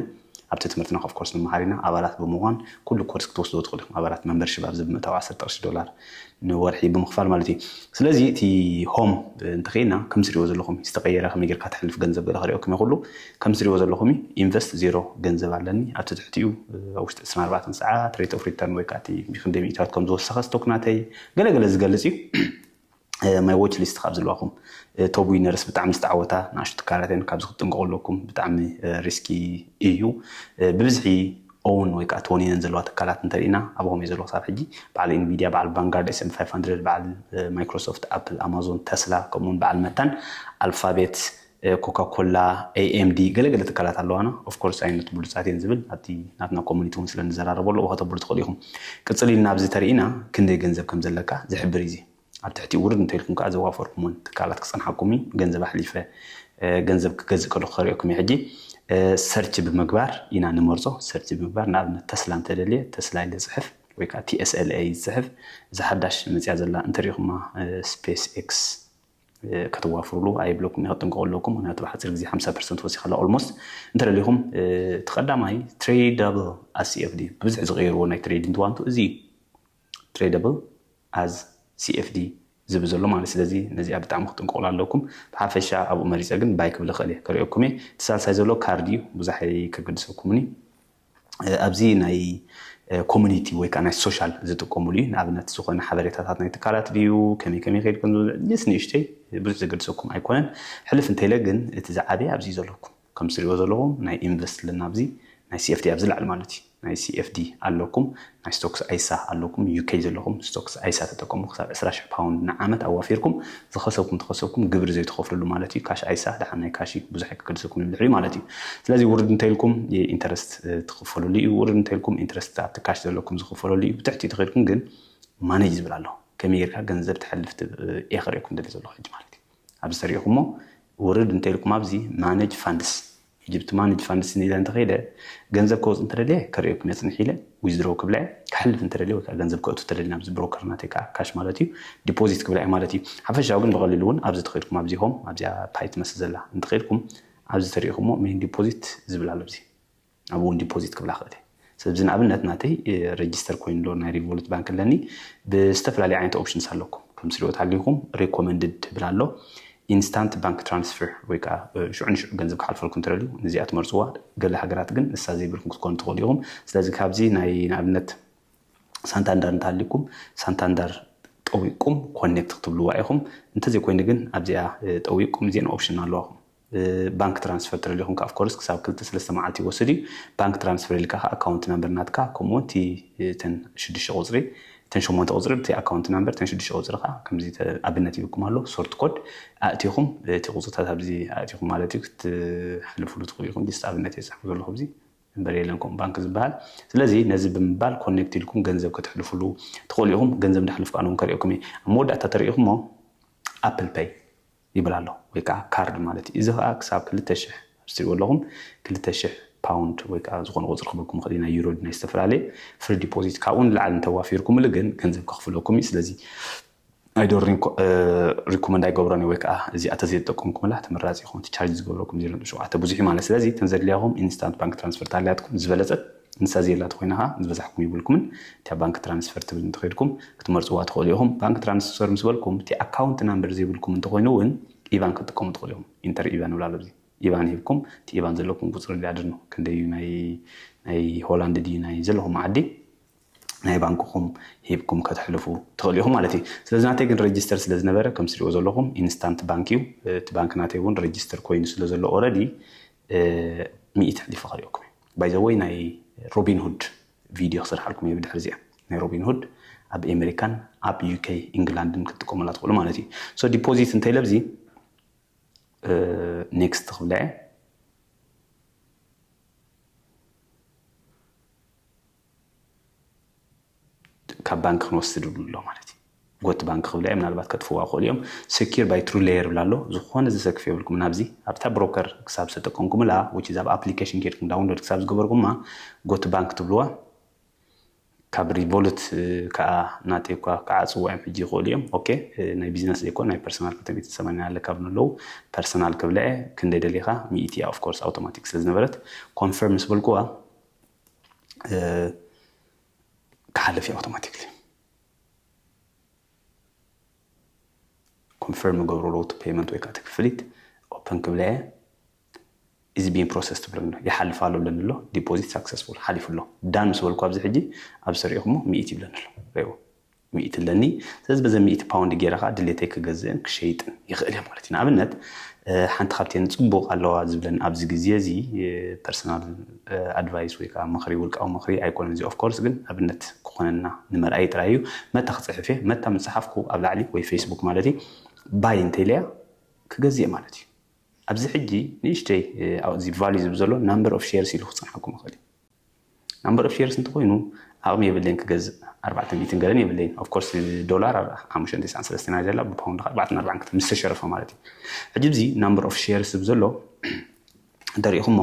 ኣብቲ ትምህርትና ኦፍኮርስ ንመሃር ኢና ኣባላት ብምዃን ኩሉ ኮርስ ክትወስድዎ ትኽእሉ ኢኹም ኣባላት መምበርሺፕ ኣብዚ ብምእታው ዓሰርተ ቅርሺ ዶላር ንወርሒ ብምኽፋል ማለት እዩ ስለዚ እቲ ሆም እንተኸይና ከም ስሪዎ ዘለኹም ዝተቀየረ ከመይ ጌርካ ተሕልፍ ገንዘብ ገለ ክሪኦ ከመይ ኩሉ ከም ስሪዎ ዘለኹም ኢንቨስት ዜሮ ገንዘብ ኣለኒ ኣብቲ ትሕቲኡ ኣብ ውሽጢ 24 ሰዓት ሬት ኦፍ ሪተርን ወይ ከዓ እቲ ክንደይ ሚእታት ከም ዝወሰኸ ስቶክ ናተይ ገለ ገለ ዝገልጽ እዩ ማይ ዎች ሊስት ካብ ዝልዋኹም ቶብ ዊነርስ ብጣዕሚ ዝተዓወታ ንኣሽቱ ትካላትን ካብዚ ክትጥንቀቑ ኣለኩም ብጣዕሚ ሪስኪ እዩ ብብዝሒ ኦውን ወይ ከኣ ቶኒነን ዘለዋ ትካላት እንተሪእና ኣባኹም እዮ ዘሎ ክሳብ ሕጂ በዓል ኢንቪድያ በዓል ቫንጋርድ ኤስ ኤም ፋይፍ ሃንድረድ በዓል ማይክሮሶፍት ኣፕል ኣማዞን ተስላ ከምኡ ውን በዓል መታን ኣልፋቤት ኮካ ኮላ ኤይ ኤም ዲ ገለ ገለ ትካላት ኣለዋና ኦፍ ኮርስ ኣይነት ብሉጻት እየን ዝብል ኣብቲ ናትና ኮሙኒቲ ውን ስለ ንዘራረበሉ እኹ ከተብሉ ትኽእሉ ኢኹም ቅጽል ኢልና ኣብዚ ተሪእና ክንደይ ገንዘብ ከም ዘለካ ዝሕብር እዩ እዚ ኣብ ትሕቲኡ ውርድ እንተኢልኩም ከኣ ዘዋፈርኩመን ትካላት ክጸንሓኩም እዩ። ገንዘብ ኣሕሊፈ ገንዘብ ክገዝእ ከለኹ ከርእየኩም እየ። ሕጂ ሰርች ብምግባር ኢና ንመርጾ። ሰርች ብምግባር ንኣብነት ተስላ እንተደልየ ተስላ ኢለ ዝጽሕፍ ወይ ከኣ TSLA ዝጽሕፍ እዛ ሓዳሽ መጺኣ ዘላ እንተሪእኹማ ስፔስ ኤክስ ከተዋፍሩሉ ኣይብለኩምን እየ ክጥንቀቁ ኣለኩም ምክንያቱ ኣብ ሓጺር ግዜ ሓምሳ ፐርሰንት ወሲኻ ኣላ ኦልሞስት እንተደሊኹም እቲ ቀዳማይ ትሬዳብል ኣስኤፍዲ ብብዝሒ ዝቀየርዎ ናይ ትሬዲንግ ዋንቱ እዚ እዩ ትሬደብል ኣዝ CFD ዝብል ዘሎ ማለት ስለዚ ነዚኣ ብጣዕሚ ክትጥንቀቁላ ኣለኩም ብሓፈሻ ኣብኡ መሪጸ ግን ባይ ክብል ይክእል እየ ከሪኦኩም እየ እቲ ሳልሳይ ዘሎ ካርድ እዩ ብዙሕ ኣይከገድሰኩምኒ ኣብዚ ናይ ኮሚኒቲ ወይ ከዓ ናይ ሶሻል ዝጥቀሙሉ እዩ ንኣብነት ዝኾነ ሓበሬታታት ናይ ትካላት ድዩ ከመይ ከመይ ከይድ ከምዝስ ንእሽተይ ብዙሕ ዘገድሰኩም ኣይኮነን ሕልፍ እንተይለ ግን እቲ ዝዓበየ ኣብዚ ዘለኩም ከምዚ ትሪእዎ ዘለኹም ናይ ኢንቨስት ኣለና ኣብዚ ናይ CFD ኣብዚ ላዕሊ ማለት እዩ ናይ CFD ኣለኩም ናይ ስቶክስ ኣይሳ ኣለኩም UK ዘለኹም ስቶክስ ኣይሳ ተጠቀሙ ክሳብ 20 ሽሕ ፓውንድ ንዓመት ኣዋፊርኩም ዝኸሰብኩም ተኸሰብኩም ግብሪ ዘይትኸፍልሉ ማለት እዩ ካሽ ኣይሳ ደሓን ናይ ካሽ እዩ ብዙሕ ኣይክገድሰኩም ንድሕሪ ማለት እዩ ስለዚ ውርድ እንተኢልኩም ኢንተረስት ትኽፈልሉ እዩ ውርድ እንተኢልኩም ኢንተረስት ኣብቲ ካሽ ዘለኩም ዝኽፈለሉ እዩ ብትሕቲ ትኸድኩም ግን ማኔጅ ዝብል ኣሎ ከመይ ጌርካ ገንዘብ ተሕልፍ ኢኽሬኩም ደሊ ዘለኹ ሕጂ ማለት እዩ ኣብዚ ተሪኢኹሞ ውርድ እንተኢልኩም ኣብዚ ማነጅ ፋንድስ ኢጅፕት ማነጅ ፋንድስ ኢለ እንተኸይደ ገንዘብ ከወፅ እንተደልየ ከርእየኩም የፅንሕ ኢለ ዊዝድሮው ክብላ እየ ክሓልፍ እንተደልየ ወይ ከዓ ገንዘብ ከእቱ እንተደልየ ናብዚ ብሮከር ናተይ ከዓ ካሽ ማለት እዩ ዲፖዚት ክብላ እየ ማለት እዩ ሓፈሻዊ ግን ብቐሊሉ እውን ኣብዚ ተኸይድኩም ኣብዚ ሆም ኣብዚኣ ፓይ ትመስል ዘላ እንተኸይድኩም ኣብዚ ተሪኢኹሞ ሜን ዲፖዚት ዝብል ኣሎ ኣብዚ ኣብኡ ውን ዲፖዚት ክብላ ክእል እየ ሰለዚ ንኣብነት ናተይ ረጅስተር ኮይኑ ኣሎ ናይ ሪቮሉት ባንክ ኣለኒ ብዝተፈላለየ ዓይነት ኦፕሽንስ ኣለኩም ከም ስሪኦ ተሃሊኩም ሬኮመንድድ ትብል ኣሎ ኢንስታንት ባንክ ትራንስፈር ወይ ከዓ ሽዑ ንሽዑ ገንዘብ ክሓልፈልኩም ትደልዩ ንዚኣ ትመርፅዋ ገለ ሃገራት ግን ንሳ ዘይብልኩም ክትኮኑ ትኽእሉ ኢኹም ስለዚ ካብዚ ናይ ንኣብነት ሳንታንዳር እንተሃሊኩም ሳንታንዳር ጠዊቅኩም ኮኔክት ክትብልዋ ኢኹም እንተዘይኮይኑ ግን ኣብዚኣ ጠዊቅኩም እዚኤን ኦፕሽን ኣለዋኹም ብባንክ ትራንስፈር ተደሊኹም ከኣ ኦፍኮርስ ክሳብ ክልተ ሰለስተ መዓልቲ ይወስድ እዩ። ባንክ ትራንስፈር ኢልካ ከኣ ኣካውንት ናምበር ናትካ ከምኡ ውን እቲ እተን ሽዱሽተ ቁጽሪ እተን ሸሞንተ ቁጽሪ ብቲ ኣካውንት ናምበር እተን ሽዱሽተ ቁጽሪ ከኣ ከምዚ ኣብነት ይብኩም ኣሎ ሶርት ኮድ ኣእቲኹም እቲ ቁጽርታት ኣብዚ ኣእቲኹም ማለት እዩ ክትሕልፍሉ ትኽእሉ ኢኹም። ጅስት ኣብነት እየ ዝጽሕፎ ዘለኹ ኣብዚ እምበር የለን ከምኡ ባንክ ዝበሃል። ስለዚ ነዚ ብምባል ኮኔክት ኢልኩም ገንዘብ ከተሕልፍሉ ትኽእሉ ኢኹም። ገንዘብ እንዳሕለፍኩ ኣነ ውን ከርእየኩም እየ። ኣብ መወዳእታ ተርእኹሞ ኣፕል ፐይ። ይብል ኣሎ ወይ ከኣ ካርድ ማለት እዩ። እዚ ከኣ ክሳብ ክልተ ሽሕ ኣብዚ ትሪእዎ ኣለኹም ክልተ ሽሕ ፓውንድ ወይ ከኣ ዝኾነ ቁጽሪ ክህበኩም ይኽእል እዩ ናይ ዩሮ ድዩ ናይ ዝተፈላለየ ፍሪ ዲፖዚት ካብኡ ንላዕሊ እንተዋፊርኩምሉ ግን ገንዘብ ከኽፍለኩም እዩ ስለዚ ኣይ ዶን ሪንኮ ሪኮመንድ ኣይገብሮን እየ ወይ ከኣ እዚ ኣተ ዘይተጠቀምኩምላ ተመራጺ ይኸውን እቲ ቻርጅ ዝገብረኩም ዜሮ ነጥቢ ሸውዓተ ብዙሕ እዩ ማለት ስለዚ እተን ዘድልያኹም ኢንስታንት ባንክ ትራንስፈር ተሃልያትኩም ዝበለጸት ንሳ ዘየላ ተኾይና ከኣ ዝበዛሕኩም የብልኩምን እቲኣ ባንክ ትራንስፈር ትብል እንተኸይድኩም ክትመርጽዋ ትኽእሉ ኢኹም ባንክ ትራንስፈር ምስ በልኩም እቲ ኣካውንት ናምበር ዘይብልኩም እንተኾይኑ ውን ኢቫን ክትጥቀሙ ትኽእሉ ኢኹም ኢንተር ኢቫን ይብል ኣሎ ኣብዚ ኢቫን ሂብኩም እቲ ኢቫን ዘለኩም ቁጽሪ ሊያድርኖ ክንደይ እዩ ናይ ናይ ሆላንድ ድዩ ናይ ዘለኹም ዓዲ ናይ ባንክኹም ሂብኩም ከተሕልፉ ትኽእሉ ኢኹም ማለት እዩ ስለዚ ናተይ ግን ረጅስተር ስለ ዝነበረ ከም ስሪኦ ዘለኹም ኢንስታንት ባንክ እዩ እቲ ባንክ ናተይ እውን ረጅስተር ኮይኑ ስለ ዘሎ ኦረዲ ሚኢቲ ኣሕሊፉ ከሪኦኩም እዩ ባይ ዘ ወይ ናይ ሮቢን ሁድ ቪድዮ ክስርሓልኩም እየ ብድሕሪ እዚኣ ናይ ሮቢን ሁድ ኣብ ኤመሪካን ኣብ ዩከይ ኢንግላንድን ክትጥቀሙላ ትኽእሉ ማለት እዩ ሶ ዲፖዚት እንታይ ለብዚ ኔክስት ክብለዐ ካብ ባንክ ክንወስድ ይብሉ ኣሎ ማለት እዩ ጎት ባንክ ክብላ እዮም ምናልባት ከጥፍዋ ክእሉ እዮም ሰኪር ባይ ትሩ ሌየር ብላ ኣሎ ዝኾነ ዘሰክፍ የብልኩም ናብዚ ኣብታ ብሮከር ክሳብ ዝተጠቀምኩምላ ውጭ ዛብ ኣፕሊኬሽን ኬድኩም ዳውንሎድ ክሳብ ዝገበርኩማ ጎት ባንክ ትብልዋ ካብ ሪቮሉት ከዓ ናተይ እኳ ክዓፅዎ እዮም ሕጂ ይኽእሉ እዮም ኦኬ ናይ ቢዝነስ ዘይኮ ናይ ፐርሰናል ክልተ ሚእቲ ሰማንያ ኣለ ካብ ንለው ፐርሰናል ክብልዐ ክንደይ ደሊኻ ሚእቲ እያ ኦፍኮርስ ኣውቶማቲክ ስለ ዝነበረት ኮንፈርም ምስ በልኩዋ ክሓልፍ እዩ ኣውቶማቲክሊ ኮንፈርም ገብሮ ለውቲ ፔመንት ወይ ከዓ እቲ ክፍሊት ኦፐን ክብለ እየ ኢዝ ቢን ፕሮሰስ ትብል ኣሎ ይሓልፍ ኣሎ ብለኒ ኣሎ ዲፖዚት ሳክሰስፉል ሓሊፉ ኣሎ ዳን ምስ በልኩ ኣብዚ ሕጂ ኣብ ስሪኢኹሞ ሚኢት ይብለኒ ኣሎ ሪእዎ ሚእቲ ኣለኒ ስለዚ በዘን ሚእቲ ፓውንድ ጌረ ከኣ ድሌተይ ክገዝእን ክሸይጥን ይኽእል እየ ማለት እዩ ንኣብነት ሓንቲ ካብተን ጽቡቕ ኣለዋ ዝብለን ኣብዚ ግዜ እዚ ፐርሰናል ኣድቫይስ ወይ ከዓ ምኽሪ ውልቃዊ ምኽሪ ኣይኮነን እዚ ኦፍኮርስ ግን ኣብነት ክኾነና ንመርኣይ ጥራይ እዩ መታ ክጽሕፍ እየ መታ ምስ ጸሓፍኩ ኣብ ላዕሊ ወይ ፌስቡክ ማለት እዩ ባይ እንተኢለያ ክገዝእ ማለት እዩ ኣብዚ ሕጂ ንእሽተይ ኣብዚ ቫልዩ ዝብ ዘሎ ናምበር ኦፍ ሼርስ ኢሉ ክጸንሓኩም ይኽእል እዩ ናምበር ኦፍ ሼርስ እንተኾይኑ ዓቕሚ የብለይን ክገዝእ ኣርባዕተ ሚእትን ገለን የብለይን ኦፍ ኮርስ ዶላር ኣብ ሓሙሽተን ትስዓን ሰለስተን እያ ዘላ ብፓውንድ ከዓ ኣርባዕተን ኣርባዕን ክተ ምስ ተሸረፈ ማለት እዩ ሕጂ እዚ ናምበር ኦፍ ሼርስ ዝብ ዘሎ እንተሪኢኹሞ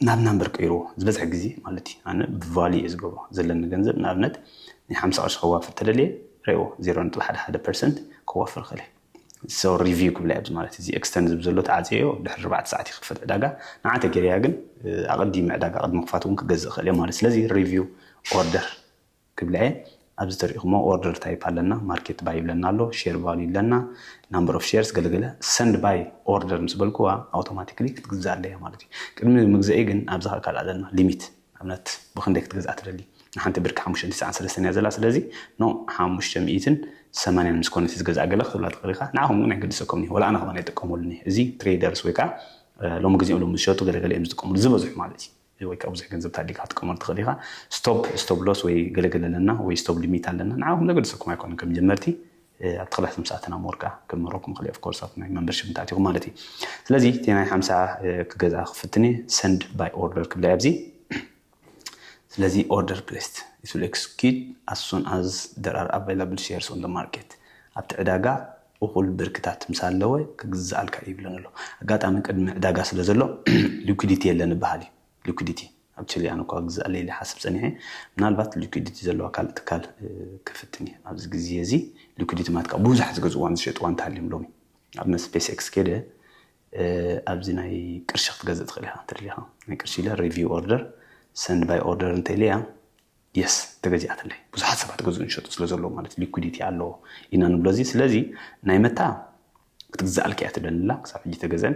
ናብ ናምበር ቀይርዎ ዝበዝሐ ግዜ ማለት እዩ ኣነ ብቫሊ እየ ዝገብሮ ዘለኒ ገንዘብ ንኣብነት ናይ ሓምሳ ቅርሺ ከዋፍር ተደልየ ረእዎ ዜሮ ነጥቢ ሓደ ሓደ ፐርሰንት ከዋፍር ክእል እየ ሶ ሪቪው ክብላ ኣብዚ ማለት እዚ ኤክስተን ዝብ ዘሎ ተዓፅዮ ድሕሪ ኣርባዕተ ሰዓት ይኽፈት ዕዳጋ ንዓ ተገይረያ ግን ኣቐዲመ ዕዳጋ ቅድሚ ክፋት እውን ክገዝእ ክእል እየ ማለት ስለዚ ሪቪው ኦርደር ክብላ እየ ኣብዚ ተሪኢኹሞ ኦርደር ታይፕ ኣለና ማርኬት ባይ ይብለና ኣሎ ሼር ቫሉ ይብለና ናምበር ኦፍ ሼርስ ገለገለ ሰንድ ባይ ኦርደር ምስ በልኩዋ ኣውቶማቲክሊ ክትግዛእ ኣለያ ማለት እዩ ቅድሚ ምግዘኢ ግን ኣብዛ ካልእ ኣለና ሊሚት ኣብነት ብክንደይ ክትገዝኣ ትደሊ ንሓንቲ ብርኪ ሓሙሽተ ትስዓን ሰለስተን እያ ዘላ ስለዚ ን ሓሙሽተ ሚኢትን ሰማንያን ምስ ኮነት ዝገዝኣ ገለ ክትብላ ትክእል ኢካ ንዓኩም ግን ኣይገድሰኩምን እዩ ወላ ኣነ ከማን ኣይጥቀመሉን እየ እዚ ትሬደርስ ወይ ከኣ ሎሚ ግዜ እሎም ዝሸጡ ገለ ገለ እዮም ዝጥቀምሉ ዝበዝሑ ማለት እዩ ወይ ከዓ ብዙሕ ገንዘብ ተኣዲካ ክትጥቀመሉ ትኽእል ኢኻ ስቶፕ ስቶፕ ሎስ ወይ ገለገለ ኣለና ወይ ስቶፕ ሊሚት ኣለና ንዓኹም ዘገድሰኩም ኣይኮነን ከም ጀመርቲ ኣብቲ ክላስ ምስ ኣተና ሞር ከኣ ክምህረኩም ይኽእል እየ of course ኣብቲ ናይ መምበርሺፕ እንተ ኣቲኹም ማለት እዩ ስለዚ እቲ ናይ ሓምሳ ክገዝኣ ክፍትን እየ send by order ክብላ እየ ኣብዚ ስለዚ order placed it will execute as soon as there are available shares on the market ኣብቲ ዕዳጋ እኹል ብርክታት ምስ ኣለወ ክግዝኣልካ እዩ ይብለኒ ኣሎ ኣጋጣሚ ቅድሚ ዕዳጋ ስለ ዘሎ ሊኩዲቲ የለን ይበሃል እዩ ሊኩዲቲ ኣብ ቺሊ ኣነ እኳ ክግዛእ ለይሊ ይሓስብ ጸኒሐ። ምናልባት ሊኩዲቲ ዘለዋ ካልእ ትካል ክፍትን እየ። ኣብዚ ግዜ እዚ ሊኩዲቲ ማለት ከኣ ብዙሕ ዝገዝእዋን ዝሸጥዋን እንተሃልዮም ሎሚ ኣብ ናይ ስፔስ ኤክስ ከይደ ኣብዚ ናይ ቅርሺ ክትገዝእ ትኽእል ኢኻ እንተደሊኻ። ናይ ቅርሺ ኢለ ሪቪው ኦርደር ሰንድ ባይ ኦርደር እንተ ኢለያ የስ ተገዚኣትለይ። ብዙሓት ሰባት ገዝኡን ዝሸጡ ስለ ዘለዉ ማለት ሊኩዲቲ ኣለዎ ኢና ንብሎ እዚ። ስለዚ ናይ መታ ክትግዛኣልካ እያ ትደሊ ኣላ ክሳብ ሕጂ ተገዘን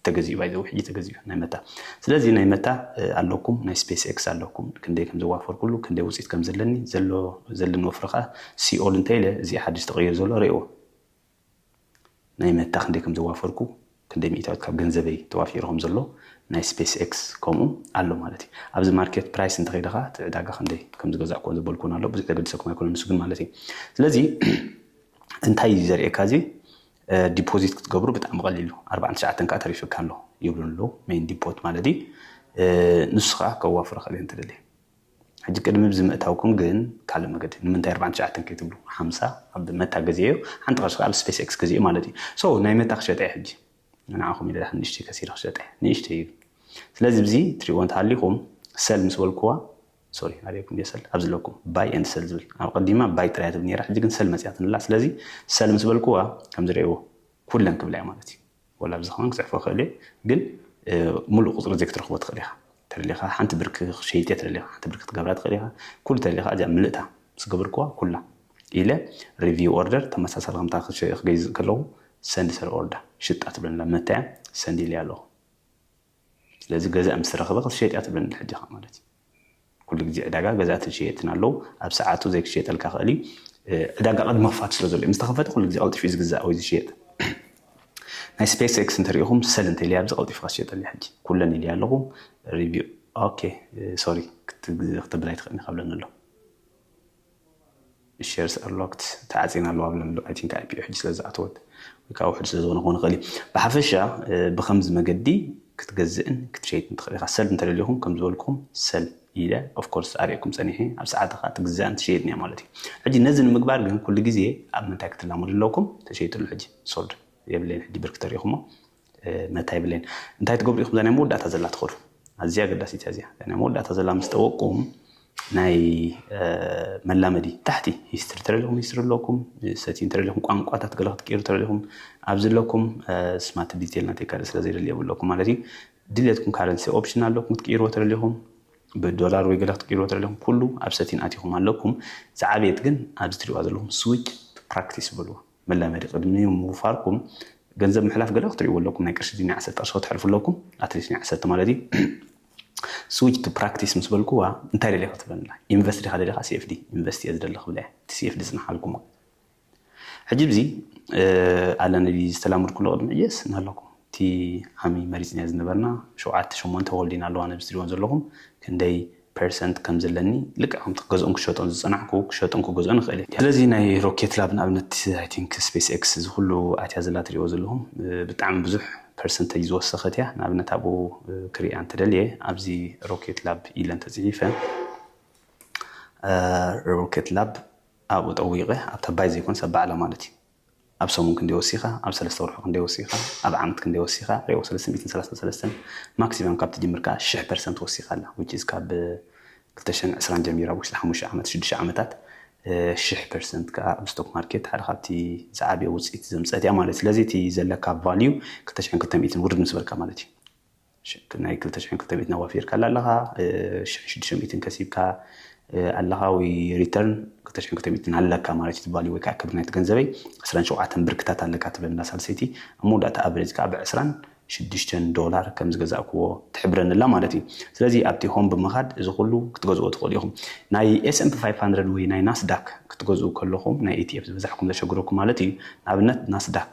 ተገዚኡ ባይ ዘወይ ሕጂ ተገዚኡ ናይ መታ ስለዚ ናይ መታ ኣለኩም ናይ ስፔስ ኤክስ ኣለኩም ክንደይ ከም ዘዋፈርኩሉ ክንደይ ውፅኢት ከም ዘለኒ ዘሎ ዘለኒ ወፍሪ ከዓ ሲኦል እንተ ኢለ እዚ ሓድሽ ተቐይሩ ዘሎ ርእዎ ናይ መታ ክንደይ ከም ዘዋፈርኩ ክንደይ ሚእታዊት ካብ ገንዘበይ ተዋፊሩ ከም ዘሎ ናይ ስፔስ ኤክስ ከምኡ ኣሎ ማለት እዩ ኣብዚ ማርኬት ፕራይስ እንተኸይደ ከዓ እቲ ዕዳጋ ክንደይ ከም ዝገዛእኩዎን ዘበልኩዎን ኣሎ ብዙሕ ዘገድሰኩም ኣይኮነን ንሱ ግን ማለት እዩ ስለዚ እንታይ እዩ ዘርእየካ እዚ ዲፖዚት ክትገብሩ ብጣዕሚ ቀሊሉ ኣርባዓን ትሽዓተን ከዓ ተሪፍካ ኣሎ ይብሉ ኣለዉ ሜን ዲፖት ማለት እዩ ንሱ ከዓ ከዋፍሮ ከለ እንትደሊ ሕጂ ቅድሚ ብዚ ምእታውኩም ግን ካልእ መገዲ ንምንታይ ኣርባዓን ትሽዓተን ከይትብሉ ሓምሳ ኣብ መታ ገዜ እዩ ሓንቲ ቅርሺ ከዓ ስፔስ ኤክስ ገዜ ማለት እዩ ሶ ናይ መታ ክሸጠ እዩ ሕጂ ንዓኹም ኢለ ዳሓን ንእሽተይ ከሲረ ክሸጠ እዩ ንእሽተይ እዩ ስለዚ ብዚ ትሪእዎ እንተሃሊኹም ሰል ምስ በልኩዋ ሶሪ ኣበየኩም ድየ ሰል ኣብዚ ለኩም ባይ and ሰል ዝብል ኣብ ቀዲማ ባይ ጥራይ እያ ትብል ነይራ ሕጂ ግን ሰል መጽያትንላ ስለዚ ሰል ምስ በልኩዋ ከምዚ ርኤዎ ኩለን ክብላ እየ ማለት እዩ ወላ ኣብዚ ከማን ክጽሕፎ ይክእል እየ ግን ሙሉእ ቁጽሪ እዚ ክትረክቦ ትክእል ኢካ ተደሊካ ሓንቲ ብርኪ ክሸይጥ እየ ተደሊካ ሓንቲ ብርኪ ክትገብራ ትክእል ኢካ ኩሉ ተደሊካ እዚኣ ምልእታ ምስ ገበርኩዋ ኩላ ኢለ ሪቪው ኦርደር ተመሳሳሊ ከምታ ክገዝእ ከለኩ ሰንድ ሰል ኦርዳ ሽጣ ትብለንላ መታያ ሰንድ ኢለያ ኣለኩ ስለዚ ገዛኢ ምስ ረኽበ ክትሸጥ እያ ትብለኒ ሕጂ ኢኻ ማለት እዩ። ኩሉ ግዜ ዕዳጋ ገዛእትን ሸየጥትን ኣለው። ኣብ ሰዓቱ ዘይክሸጠልካ ይኽእል እዩ። ዕዳጋ ቅድሚ ምኽፋቱ ስለ ዘሎ እዩ። ምስ ተኸፈተ ኩሉ ግዜ ቀልጢፉ እዩ ዝግዛእ ወይ ዝሸየጥ። ናይ ስፔስ ኤክስ እንተሪኢኹም ሰል እንተኢለያ ኣብዚ ቀልጢፍካ ትሸጠልያ ሕጂ ኩለን ኢለያ ኣለኹ ሪቪው ኦኬ ሶሪ ክትብል ኣይትኽእልን ኢኻ ብለኒ ኣሎ። shares are locked ተዓጽየን ኣለዋ ብለንዶ i think ipo ሕጂ ስለ ዝኣተወት ወይ ከኣ ውሑድ ስለ ዝኾነ ክኸውን ይኽእል እዩ ብሓፈሻ ብኸምዚ መገዲ ክትገዝእን ክትሸይጥን ትኽእል ኢኻ ሰል እንተደሊኹም ከም ዝበልኩም ሰል ኢለ ኦፍ ኮርስ ኣርእየኩም ጸኒሐ ኣብ ሰዓት ኸኣ ትግዛእን ትሸይጥን እያ ማለት እዩ ሕጂ ነዚ ንምግባር ግን ኩሉ ግዜ ኣብ ምንታይ ክትላመዱ ኣለኩም ተሸይጥሉ ሕጂ ሶልድ የብለይን ሕጂ ብርክ ተሪእኹሞ መታይ ብሌን እንታይ ትገብሩ ኢኹም እዛ ናይ መወዳእታ ዘላ ትኸዱ ኣዝያ ኣገዳሲት እያ እዚኣ ናይ መወዳእታ ዘላ ምስ ጠወቅኩም ናይ መላመዲ ታሕቲ ሂስትሪ ተረዲኹም ሂስትሪ ኣለኩም ሰቲን ተረዲኹም ቋንቋታት ገለ ክትቀይሩ ተረዲኹም ኣብዚ ኣለኩም ስማት ዲቴል ናተይ ካልእ ስለ ዘይደሊ የብለኩም ማለት እዩ ድሌትኩም ካረንሲ ኦፕሽን ኣለኩም ክትቀይርዎ ተረዲኹም ብዶላር ወይ ገለ ክትቀይርዎ ተረዲኹም ኩሉ ኣብ ሰቲን ኣቲኹም ኣለኩም ዝዓበየት ግን ኣብዚ ትሪእዋ ዘለኹም ስዊች ፕራክቲስ በልዎ መላመዲ ቅድሚ ምውፋርኩም ገንዘብ ምሕላፍ ገለ ክትሪእዎ ኣለኩም ናይ ቅርሺ ድዩ ናይ ዓሰብ ቅርሺ ክትሕልፉ ኣለኩም ኣትሊስት ናይ ዓሰብቲ ማለት እዩ ስዊች ቱ ፕራክቲስ ምስ በልኩዋ እንታይ ደልየ ክትብለንላ ኢንቨስት ዲኻ ደሊኻ ሲኤፍዲ ኢንቨስት እየ ዝደሊ ክብለ እየ እቲ ሲኤፍዲ ጽንሓልኩም ማለት ሕጂ ብዚ ኣለኒ ዝተላምድኩሉ ቅድሚ እየስ እናለኩም እቲ ዓሚ መሪጽናዮ ዝነበርና ሸውዓተ ሸሞንተ ወልዲን ኣለዋን ኣብዚ ትሪእወን ዘለኹም ክንደይ ፐርሰንት ከም ዘለኒ ልክዕ ከምቲ ክገዝኦን ክሸጦን ዝጸናሕኩ ክሸጦን ክገዝኦን ይኽእል እየ። ስለዚ ናይ ሮኬት ላብ ንኣብነት ኣይ ቲንክ ስፔስ ኤክስ እዚ ኩሉ ኣትያ ዘላ ትሪእዎ ዘለኹም ብጣዕሚ ብዙሕ ፐርሰንተጅ ዝወሰኸት እያ። ንኣብነት ኣብኡ ክሪኣ እንተ ደልየ ኣብዚ ሮኬት ላብ ኢለ እንተ ጽሒፈ ሮኬት ላብ ኣብኡ ጠዊቐ ኣብታ ባይ ዘይኮነስ ኣብ ባዕላ ማለት እዩ። ኣብ ሰሙን ክንደይ ወሲኻ፣ ኣብ ሰለስተ ወርሑ ክንደይ ወሲኻ፣ ኣብ ዓመት ክንደይ ወሲኻ፣ ሬኦ ሰለስተ ሚእትን ሰላሳን ሰለስተን ማክሲመም ካብ ትጅምር ከኣ ሽሕ ፐርሰንት ወሲኻ ኣላ which is ካብ ክልተ ሽሕን ዕስራን ጀሚሩ ኣብ ውሽጢ ሓሙሽተ ዓመት ሽዱሽተ ዓመታት ሽሕ ፐርሰንት ከኣ ኣብ ስቶክ ማርኬት ሓደ ካብቲ ዝዓበየ ውጽኢት ዘምጸት እያ ማለት እዩ። ስለዚ እቲ ዘለካ ቫልዩ ክልተ ሽሕን ክልተ ሚእትን ውርድ ምስ በልካ ማለት እዩ። ሽክ ናይ ክልተ ሽሕን ክልተ ሚእትን ኣዋፊርካላ ኣለኻ፣ ሽሕን ሽዱሽተ ሚእትን ከሲብካ ኣለኻ ወይ ሪተርን ክልተ ሽሕን ክልተ ሚእትን ኣለካ ማለት እዩ ትባሊ ወይ ከዓ ክብሪ ናይቲ ገንዘበይ ዕስራን ሸውዓተን ብርክታት ኣለካ ትብለንላ ሳልሰይቲ ኣብ መወዳእታ ኣቨሬጅ ከዓ ብዕስራን ሽዱሽተን ዶላር ከም ዝገዛእክዎ ትሕብረንላ ማለት እዩ ስለዚ ኣብቲ ሆም ብምኻድ እዚ ኩሉ ክትገዝኦ ትኽእሉ ኢኹም ናይ ኤስኤምፒ ፋይቭ ሃንድረድ ወይ ናይ ናስዳክ ክትገዝኡ ከለኹም ናይ ኢቲኤፍ ዝበዛሕኩም ዘሸግረኩም ማለት እዩ ንኣብነት ናስዳክ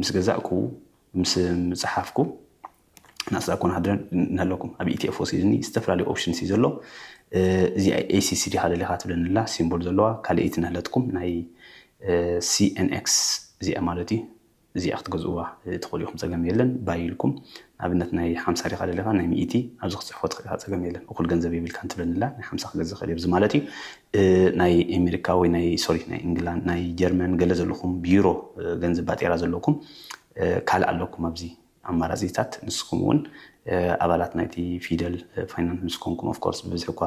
ምስ ገዛእኩ ምስ ምጽሓፍኩ ናስ ዳኮን ሃድረን እንሀለኩም ኣብ ኢቲኤፎ ሲድኒ ዝተፈላለዩ ኦፕሽንስ እዩ ዘሎ እዚ ኤሲሲ ዲኻ ደሊኻ ትብለኒ ኣላ ሲምቦል ዘለዋ ካልእይቲ ንህለትኩም ናይ ሲኤንኤክስ እዚኣ ማለት እዩ እዚኣ ክትገዝእዋ ትኽእሉ ኢኹም ጸገም የለን ባይ ኢልኩም ንኣብነት ናይ ሓምሳ ዲኻ ደሊኻ ናይ ሚኢቲ ኣብዚ ክትጽሕፎ ትኽእል ኢኻ ጸገም የለን እኹል ገንዘብ የብልካን ትብለኒላ ናይ ሓምሳ ክገዝእ ይኽእል እየ ብዚ ማለት እዩ ናይ ኤሜሪካ ወይ ናይ ሶሪ ናይ እንግላንድ ናይ ጀርመን ገለ ዘለኹም ብዩሮ ገንዘብ ባጤራ ዘለኩም ካልእ ኣለኩም ኣብዚ ኣማራጺታት ንስኹም እውን ኣባላት ናይቲ ፊደል ፋይናንስ ምስ ኮንኩም ኦፍኮርስ ብብዝሒ እኳ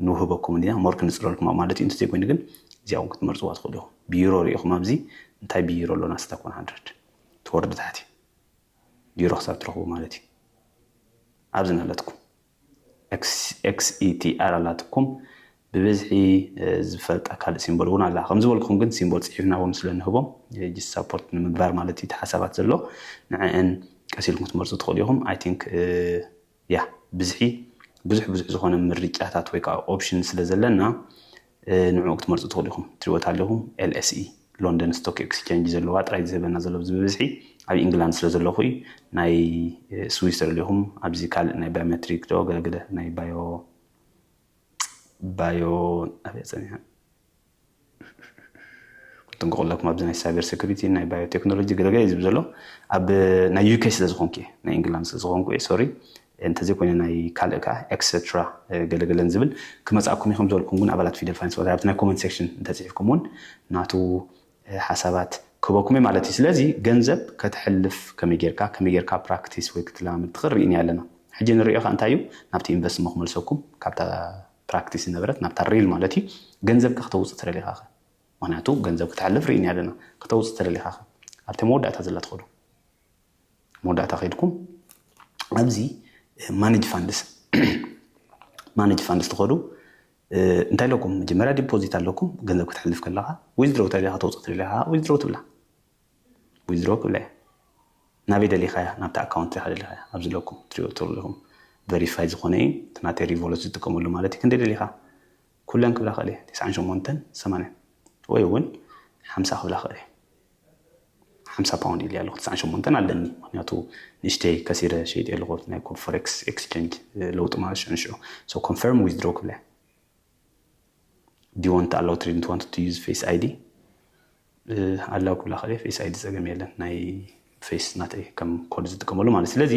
ንውህበኩም ኢና ሞር ክንጽረልኩም ኣብ ማለት እዩ እንተዘይኮይኑ ግን እዚኣ እውን ክትመርጽዋ ትኽእሉ ኢኹም ብዩሮ ርኢኹም ኣብዚ እንታይ ብዩሮ ኣሎና ስታክ 100 ትወርዱ ታሕቲ ቢሮ ክሳብ ትረኽቡ ማለት እዩ ኣብዚ ናለትኩም XETR ኣላትኩም ብብዝሒ ዝፈልጣ ካልእ ሲምቦል እውን ኣላ ከም ዝበልኩም ግን ሲምቦል ጽሒፍና እውን ስለ ንህቦም ጅስ ሳፖርት ንምግባር ማለት እዩ እቲ ሓሳባት ዘሎ ንዕአን ቀስ ኢልኩም ክትመርጹ ትኽእሉ ኢኹም ኣይ ቲንክ ያህ ብዝሒ ብዙሕ ብዙሕ ዝኾነ ምርጫታት ወይ ከዓ ኦፕሽን ስለ ዘለና ንዕኡ ክትመርፁ ትኽእሉ ኢኹም። ትሪእዎ ታለኹም LSE ሎንደን ስቶክ ኤክስቼንጅ ዘለዋ ጥራይ እዩ ዝህበና ዘሎ ኣብዚ ብብዝሒ ኣብ ኢንግላንድ ስለ ዘለኹ እዩ። ናይ ስዊስ ተደሊኹም ኣብዚ ካልእ ናይ ባዮሜትሪክ ዶ ገለገለ ናይ ባዮ ባዮ ኣበይ ፀኒሐ ክጥንቀቀለኩም ኣብዚ ናይ ሳይበር ሴኩሪቲ ናይ ባዮ ቴክኖሎጂ ገለ ገለ ዝብ ዘሎ ኣብ ናይ ዩኬ ስለ ዝኾንኩ እየ ናይ ኢንግላንድ ስለ ዝኾንኩ እየ ሶሪ እንተዘይ ኮይነ ናይ ካልእ ከዓ ኤክሰትራ ገለገለን ዝብል ክመፅኣኩም እዩ ከምዝበልኩም ግን ኣባላት ፊደል ፋይናንስ ወላ ኣብቲ ናይ ኮመንት ሴክሽን እንተፅሒፍኩም እውን ናቱ ሓሳባት ክህበኩም እዩ ማለት እዩ ስለዚ ገንዘብ ከተሕልፍ ከመይ ጌርካ ከመይ ጌርካ ፕራክቲስ ወይ ክትለማመድ ትኽእል ርኢና ኣለና ሕጂ ንሪኦ ከዓ እንታይ እዩ ናብቲ ኢንቨስትሞ ክመልሰኩም ካብታ ፕራክቲስ ዝነበረት ናብታ ሪል ማለት እዩ ገንዘብካ ክተውፅእ ተደሊኻኸ ምክንያቱ ገንዘብ ክተሕልፍ ርኢና ኣለና ክተውፅእ ተደሊኻኸ ኣብቲ መወዳእታ ዘላ ትኸዱ መወዳእታ ከይድኩም ኣብዚ ማኔጅ ፋንድስ ማኔጅ ፋንድስ ትኸዱ እንታይ ኣለኩም መጀመርያ ዲፖዚት ኣለኩም ገንዘብ ክትሕልፍ ከለካ ዊዝድሮ ተደሊካ ተውፅእ ተደሊካ ዊዝድሮ ትብላ ዊዝድሮ ክብላ እያ ናበይ ደሊካያ ናብታ ኣካውንት ኢካ ደሊካያ ኣብዚ ኣለኩም ትሪእዎ ትክእሉ ኢኩም ቨሪፋይ ዝኮነ እዩ እቲ ናተይ ሪቮሉት ዝጥቀመሉ ማለት እዩ ክንደይ ደሊካ ኩለን ክብላ ክእል እየ ትስዓን ሸሞንተን ሰማንያን ወይ እውን ሓምሳ ክብላ ክእል እየ ሓምሳ ፓውንድ ኢልያ ኣለኩ ትስዓን ሸሞንተን ኣለኒ ምክንያቱ ንእሽተይ ከሲረ ሸይጥ ኣለኩ ናይ ፎሬክስ ኤክስቼንጅ ለውጢ ማለት ሽዑ ንሽዑ ሶ ኮንፈርም ዊዝድሮ ክብላ እያ ዲወንት ኣላው ትሪድ ንትወንት ቱ ዩዝ ፌስ ኣይዲ ኣላው ክብላ ከለየ ፌስ ኣይዲ ጸገም የለን ናይ ፌስ ናተይ ከም ኮድ ዝጥቀመሉ ማለት ስለዚ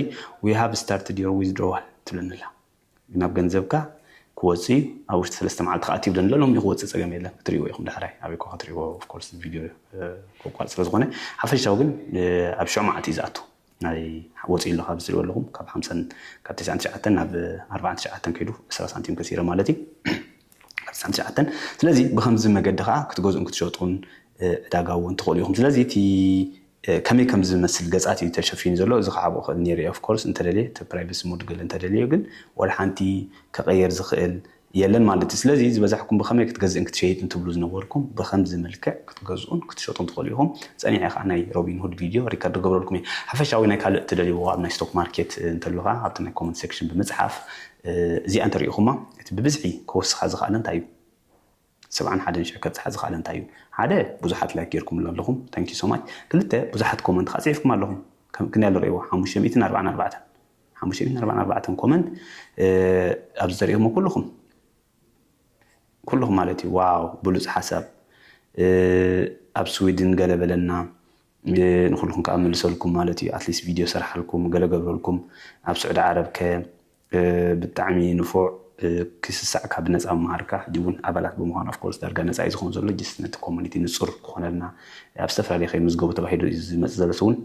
ዊ ሃቭ ስታርትድ ዮር ዊዝድሮዋል ትብለኒ ኣላ ናብ ገንዘብካ ክወጽእ እዩ ኣብ ውሽጢ ሰለስተ መዓልቲ ከዓ እቲ ይብለኒ ኣሎ ሎሚ ክወጽእ ጸገም የለን ክትሪእዎ ኢኹም ዳሕራይ ኣበይ እኳ ክትሪእዎ ኦፍኮርስ ቪድዮ ከቋርፅ ስለዝኾነ ሓፈሻዊ ግን ኣብ ሽዑ መዓልቲ እዩ ዝኣቱ ናይ ወፂኡ ኣሎ ካብዚ ትሪእዎ ኣለኹም ካብ ሓምሳን ካብ ትስዓን ትሽዓተን ናብ ኣርባዓን ትሽዓተን ከይዱ ዕስራ ሳንቲም ከሲረ ማለት እዩ ካብ ትስዓን ትሽዓተን ስለዚ ብከምዚ መገዲ ከዓ ክትገዝኡን ክትሸጡን ዕዳጋ እውን ትኽእሉ ኢኹም ስለዚ እቲ ከመይ ከም ዝመስል ገፃት እዩ ተሸፊኑ ዘሎ እዚ ክዓብኦ ክእል ነይሩ ኦፍኮርስ እንተደልየ እቲ ፕራይቬሲ ሞድ ገለ እንተደልዮ ግን ዋላ ሓንቲ ከቀየር ዝኽእል የለን ማለት እዩ። ስለዚ ዝበዛሕኩም ብኸመይ ክትገዝእን ክትሸይጥን ትብሉ ዝነበርኩም ብኸምዚ መልክዕ ክትገዝኡን ክትሸጡን ትኽእሉ ኢኹም። ጸኒሐ ከኣ ናይ ሮቢንሁድ ቪድዮ ሪከርድ ክገብረልኩም እየ። ሓፈሻዊ ናይ ካልእ እትደልይዎ ኣብ ናይ ስቶክ ማርኬት እንተሎ ከኣ ኣብቲ ናይ ኮመንት ሴክሽን ብምጽሓፍ እዚኣ እንተሪኢኹማ እቲ ብብዝሒ ክወስኻ ዝኸኣለ እንታይ እዩ? ሰብዓን ሓደን ሽሕ ከብጽሓ ዝኸኣለ እንታይ እዩ? ሓደ፣ ብዙሓት ላይክ ጌርኩምሉ ኣለኹም፣ Thank you so much፣ ክልተ፣ ብዙሓት ኮመንት ከኣ ጽሒፍኩም ኣለኹም፣ ከም ክንደይ ኣሎ ርእይዎ፣ ሓሙሽተ ሚእትን ኣርብዓን ኣርባዕተን፣ ሓሙሽተ ሚእትን ኣርብዓን ኣርባዕተን ኮመንት ኣብዚ ተርእኹሞ ኩሉኹም፣ ኩሉኹም ማለት እዩ፣ ዋው ብሉጽ ሓሳብ፣ ኣብ ስዊድን ገለ በለና፣ ንኹሉኹም ከኣ መልሰልኩም ማለት እዩ፣ ኣትሊስት ቪድዮ ሰርሓልኩም፣ ገለ ገብረልኩም፣ ኣብ ስዑዲ ዓረብ ከ ብጣዕሚ ንፉዕ ክይ ስሳዕ ካብ ነጻ ምምሃርካ ሕጂ ውን ኣባላት ብምዃን of course ዳርጋ ነጻ እዩ ዝኸውን ዘሎ just ነቲ community ንጹር ክኾነልና ኣብ ዝተፈላለየ ከይምዝገቡ ተባሂሉ እዩ ዝመጽእ ዘሎ so ውን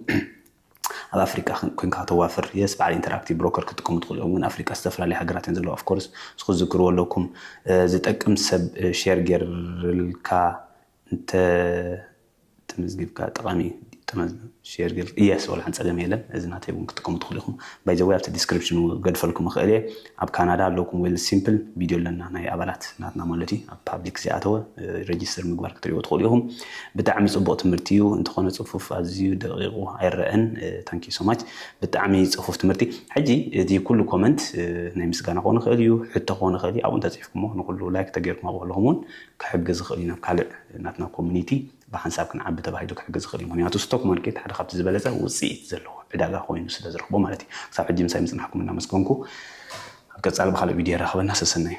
ኣብ ኣፍሪቃ ኮንካ ከተዋፍር yes በዓል interactive broker ክጥቀሙ ትኽእሉ እዮም ግን ኣፍሪቃ ዝተፈላለየ ሃገራት እየን ዘለዋ of course እዚ ክትዝክርዎ ኣለኩም ዝጠቅም ሰብ share ጌርልካ እንተ ተመዝጊብካ ጠቃሚ እዩ ሼር ገርካ እየስ ወላሓን ጸገም የለን እዚ ናተይ እውን ክትጥቀሙ ትኽእሉ ኢኹም ባይ ዘ ወይ ኣብቲ ዲስክሪፕሽን እውን ክገድፈልኩም እኽእል እየ ኣብ ካናዳ ኣለኩም ዌል ሲምፕል ቪድዮ ኣለና ናይ ኣባላት ናትና ማለት እዩ ኣብ ፓብሊክ ዘይኣተወ ሬጅስተር ምግባር ክትሪእዎ ትኽእሉ ኢኹም ብጣዕሚ ጽቡቕ ትምህርቲ እዩ እንተኾነ ጽፉፍ ኣዝዩ ደቂቑ ኣይረአን ታንኪ ሶ ማች ብጣዕሚ ጽፉፍ ትምህርቲ ሕጂ እቲ ኩሉ ኮመንት ናይ ምስጋና ክኾን ይኽእል እዩ ሕቶ ክኾን ይኽእል እዩ ኣብኡ እንተጽሒፍኩሞ ንኹሉ ላይክ ተገይርኩም ኣብኡ ኣለኹም እውን ክሕግዝ ዝኽእል እዩ ናብ ካልእ ናትና ኮሚኒቲ ብሓንሳብ ክንዓቢ ተባሂሉ ክሕግዝ ዝኽእል እዩ ምኽንያቱ ስቶክ ማርኬት ሓደ ካብቲ ዝበለጸ ውጽኢት ዘለዎ ዕዳጋ ኮይኑ ስለ ዝረኽቦ ማለት እዩ ክሳብ ሕጂ ምሳይ ምጽናሕኩም እናመስገንኩ ኣብ ቀጻሊ ብካልእ ቪድዮ የራኽበና ሰሰናዩ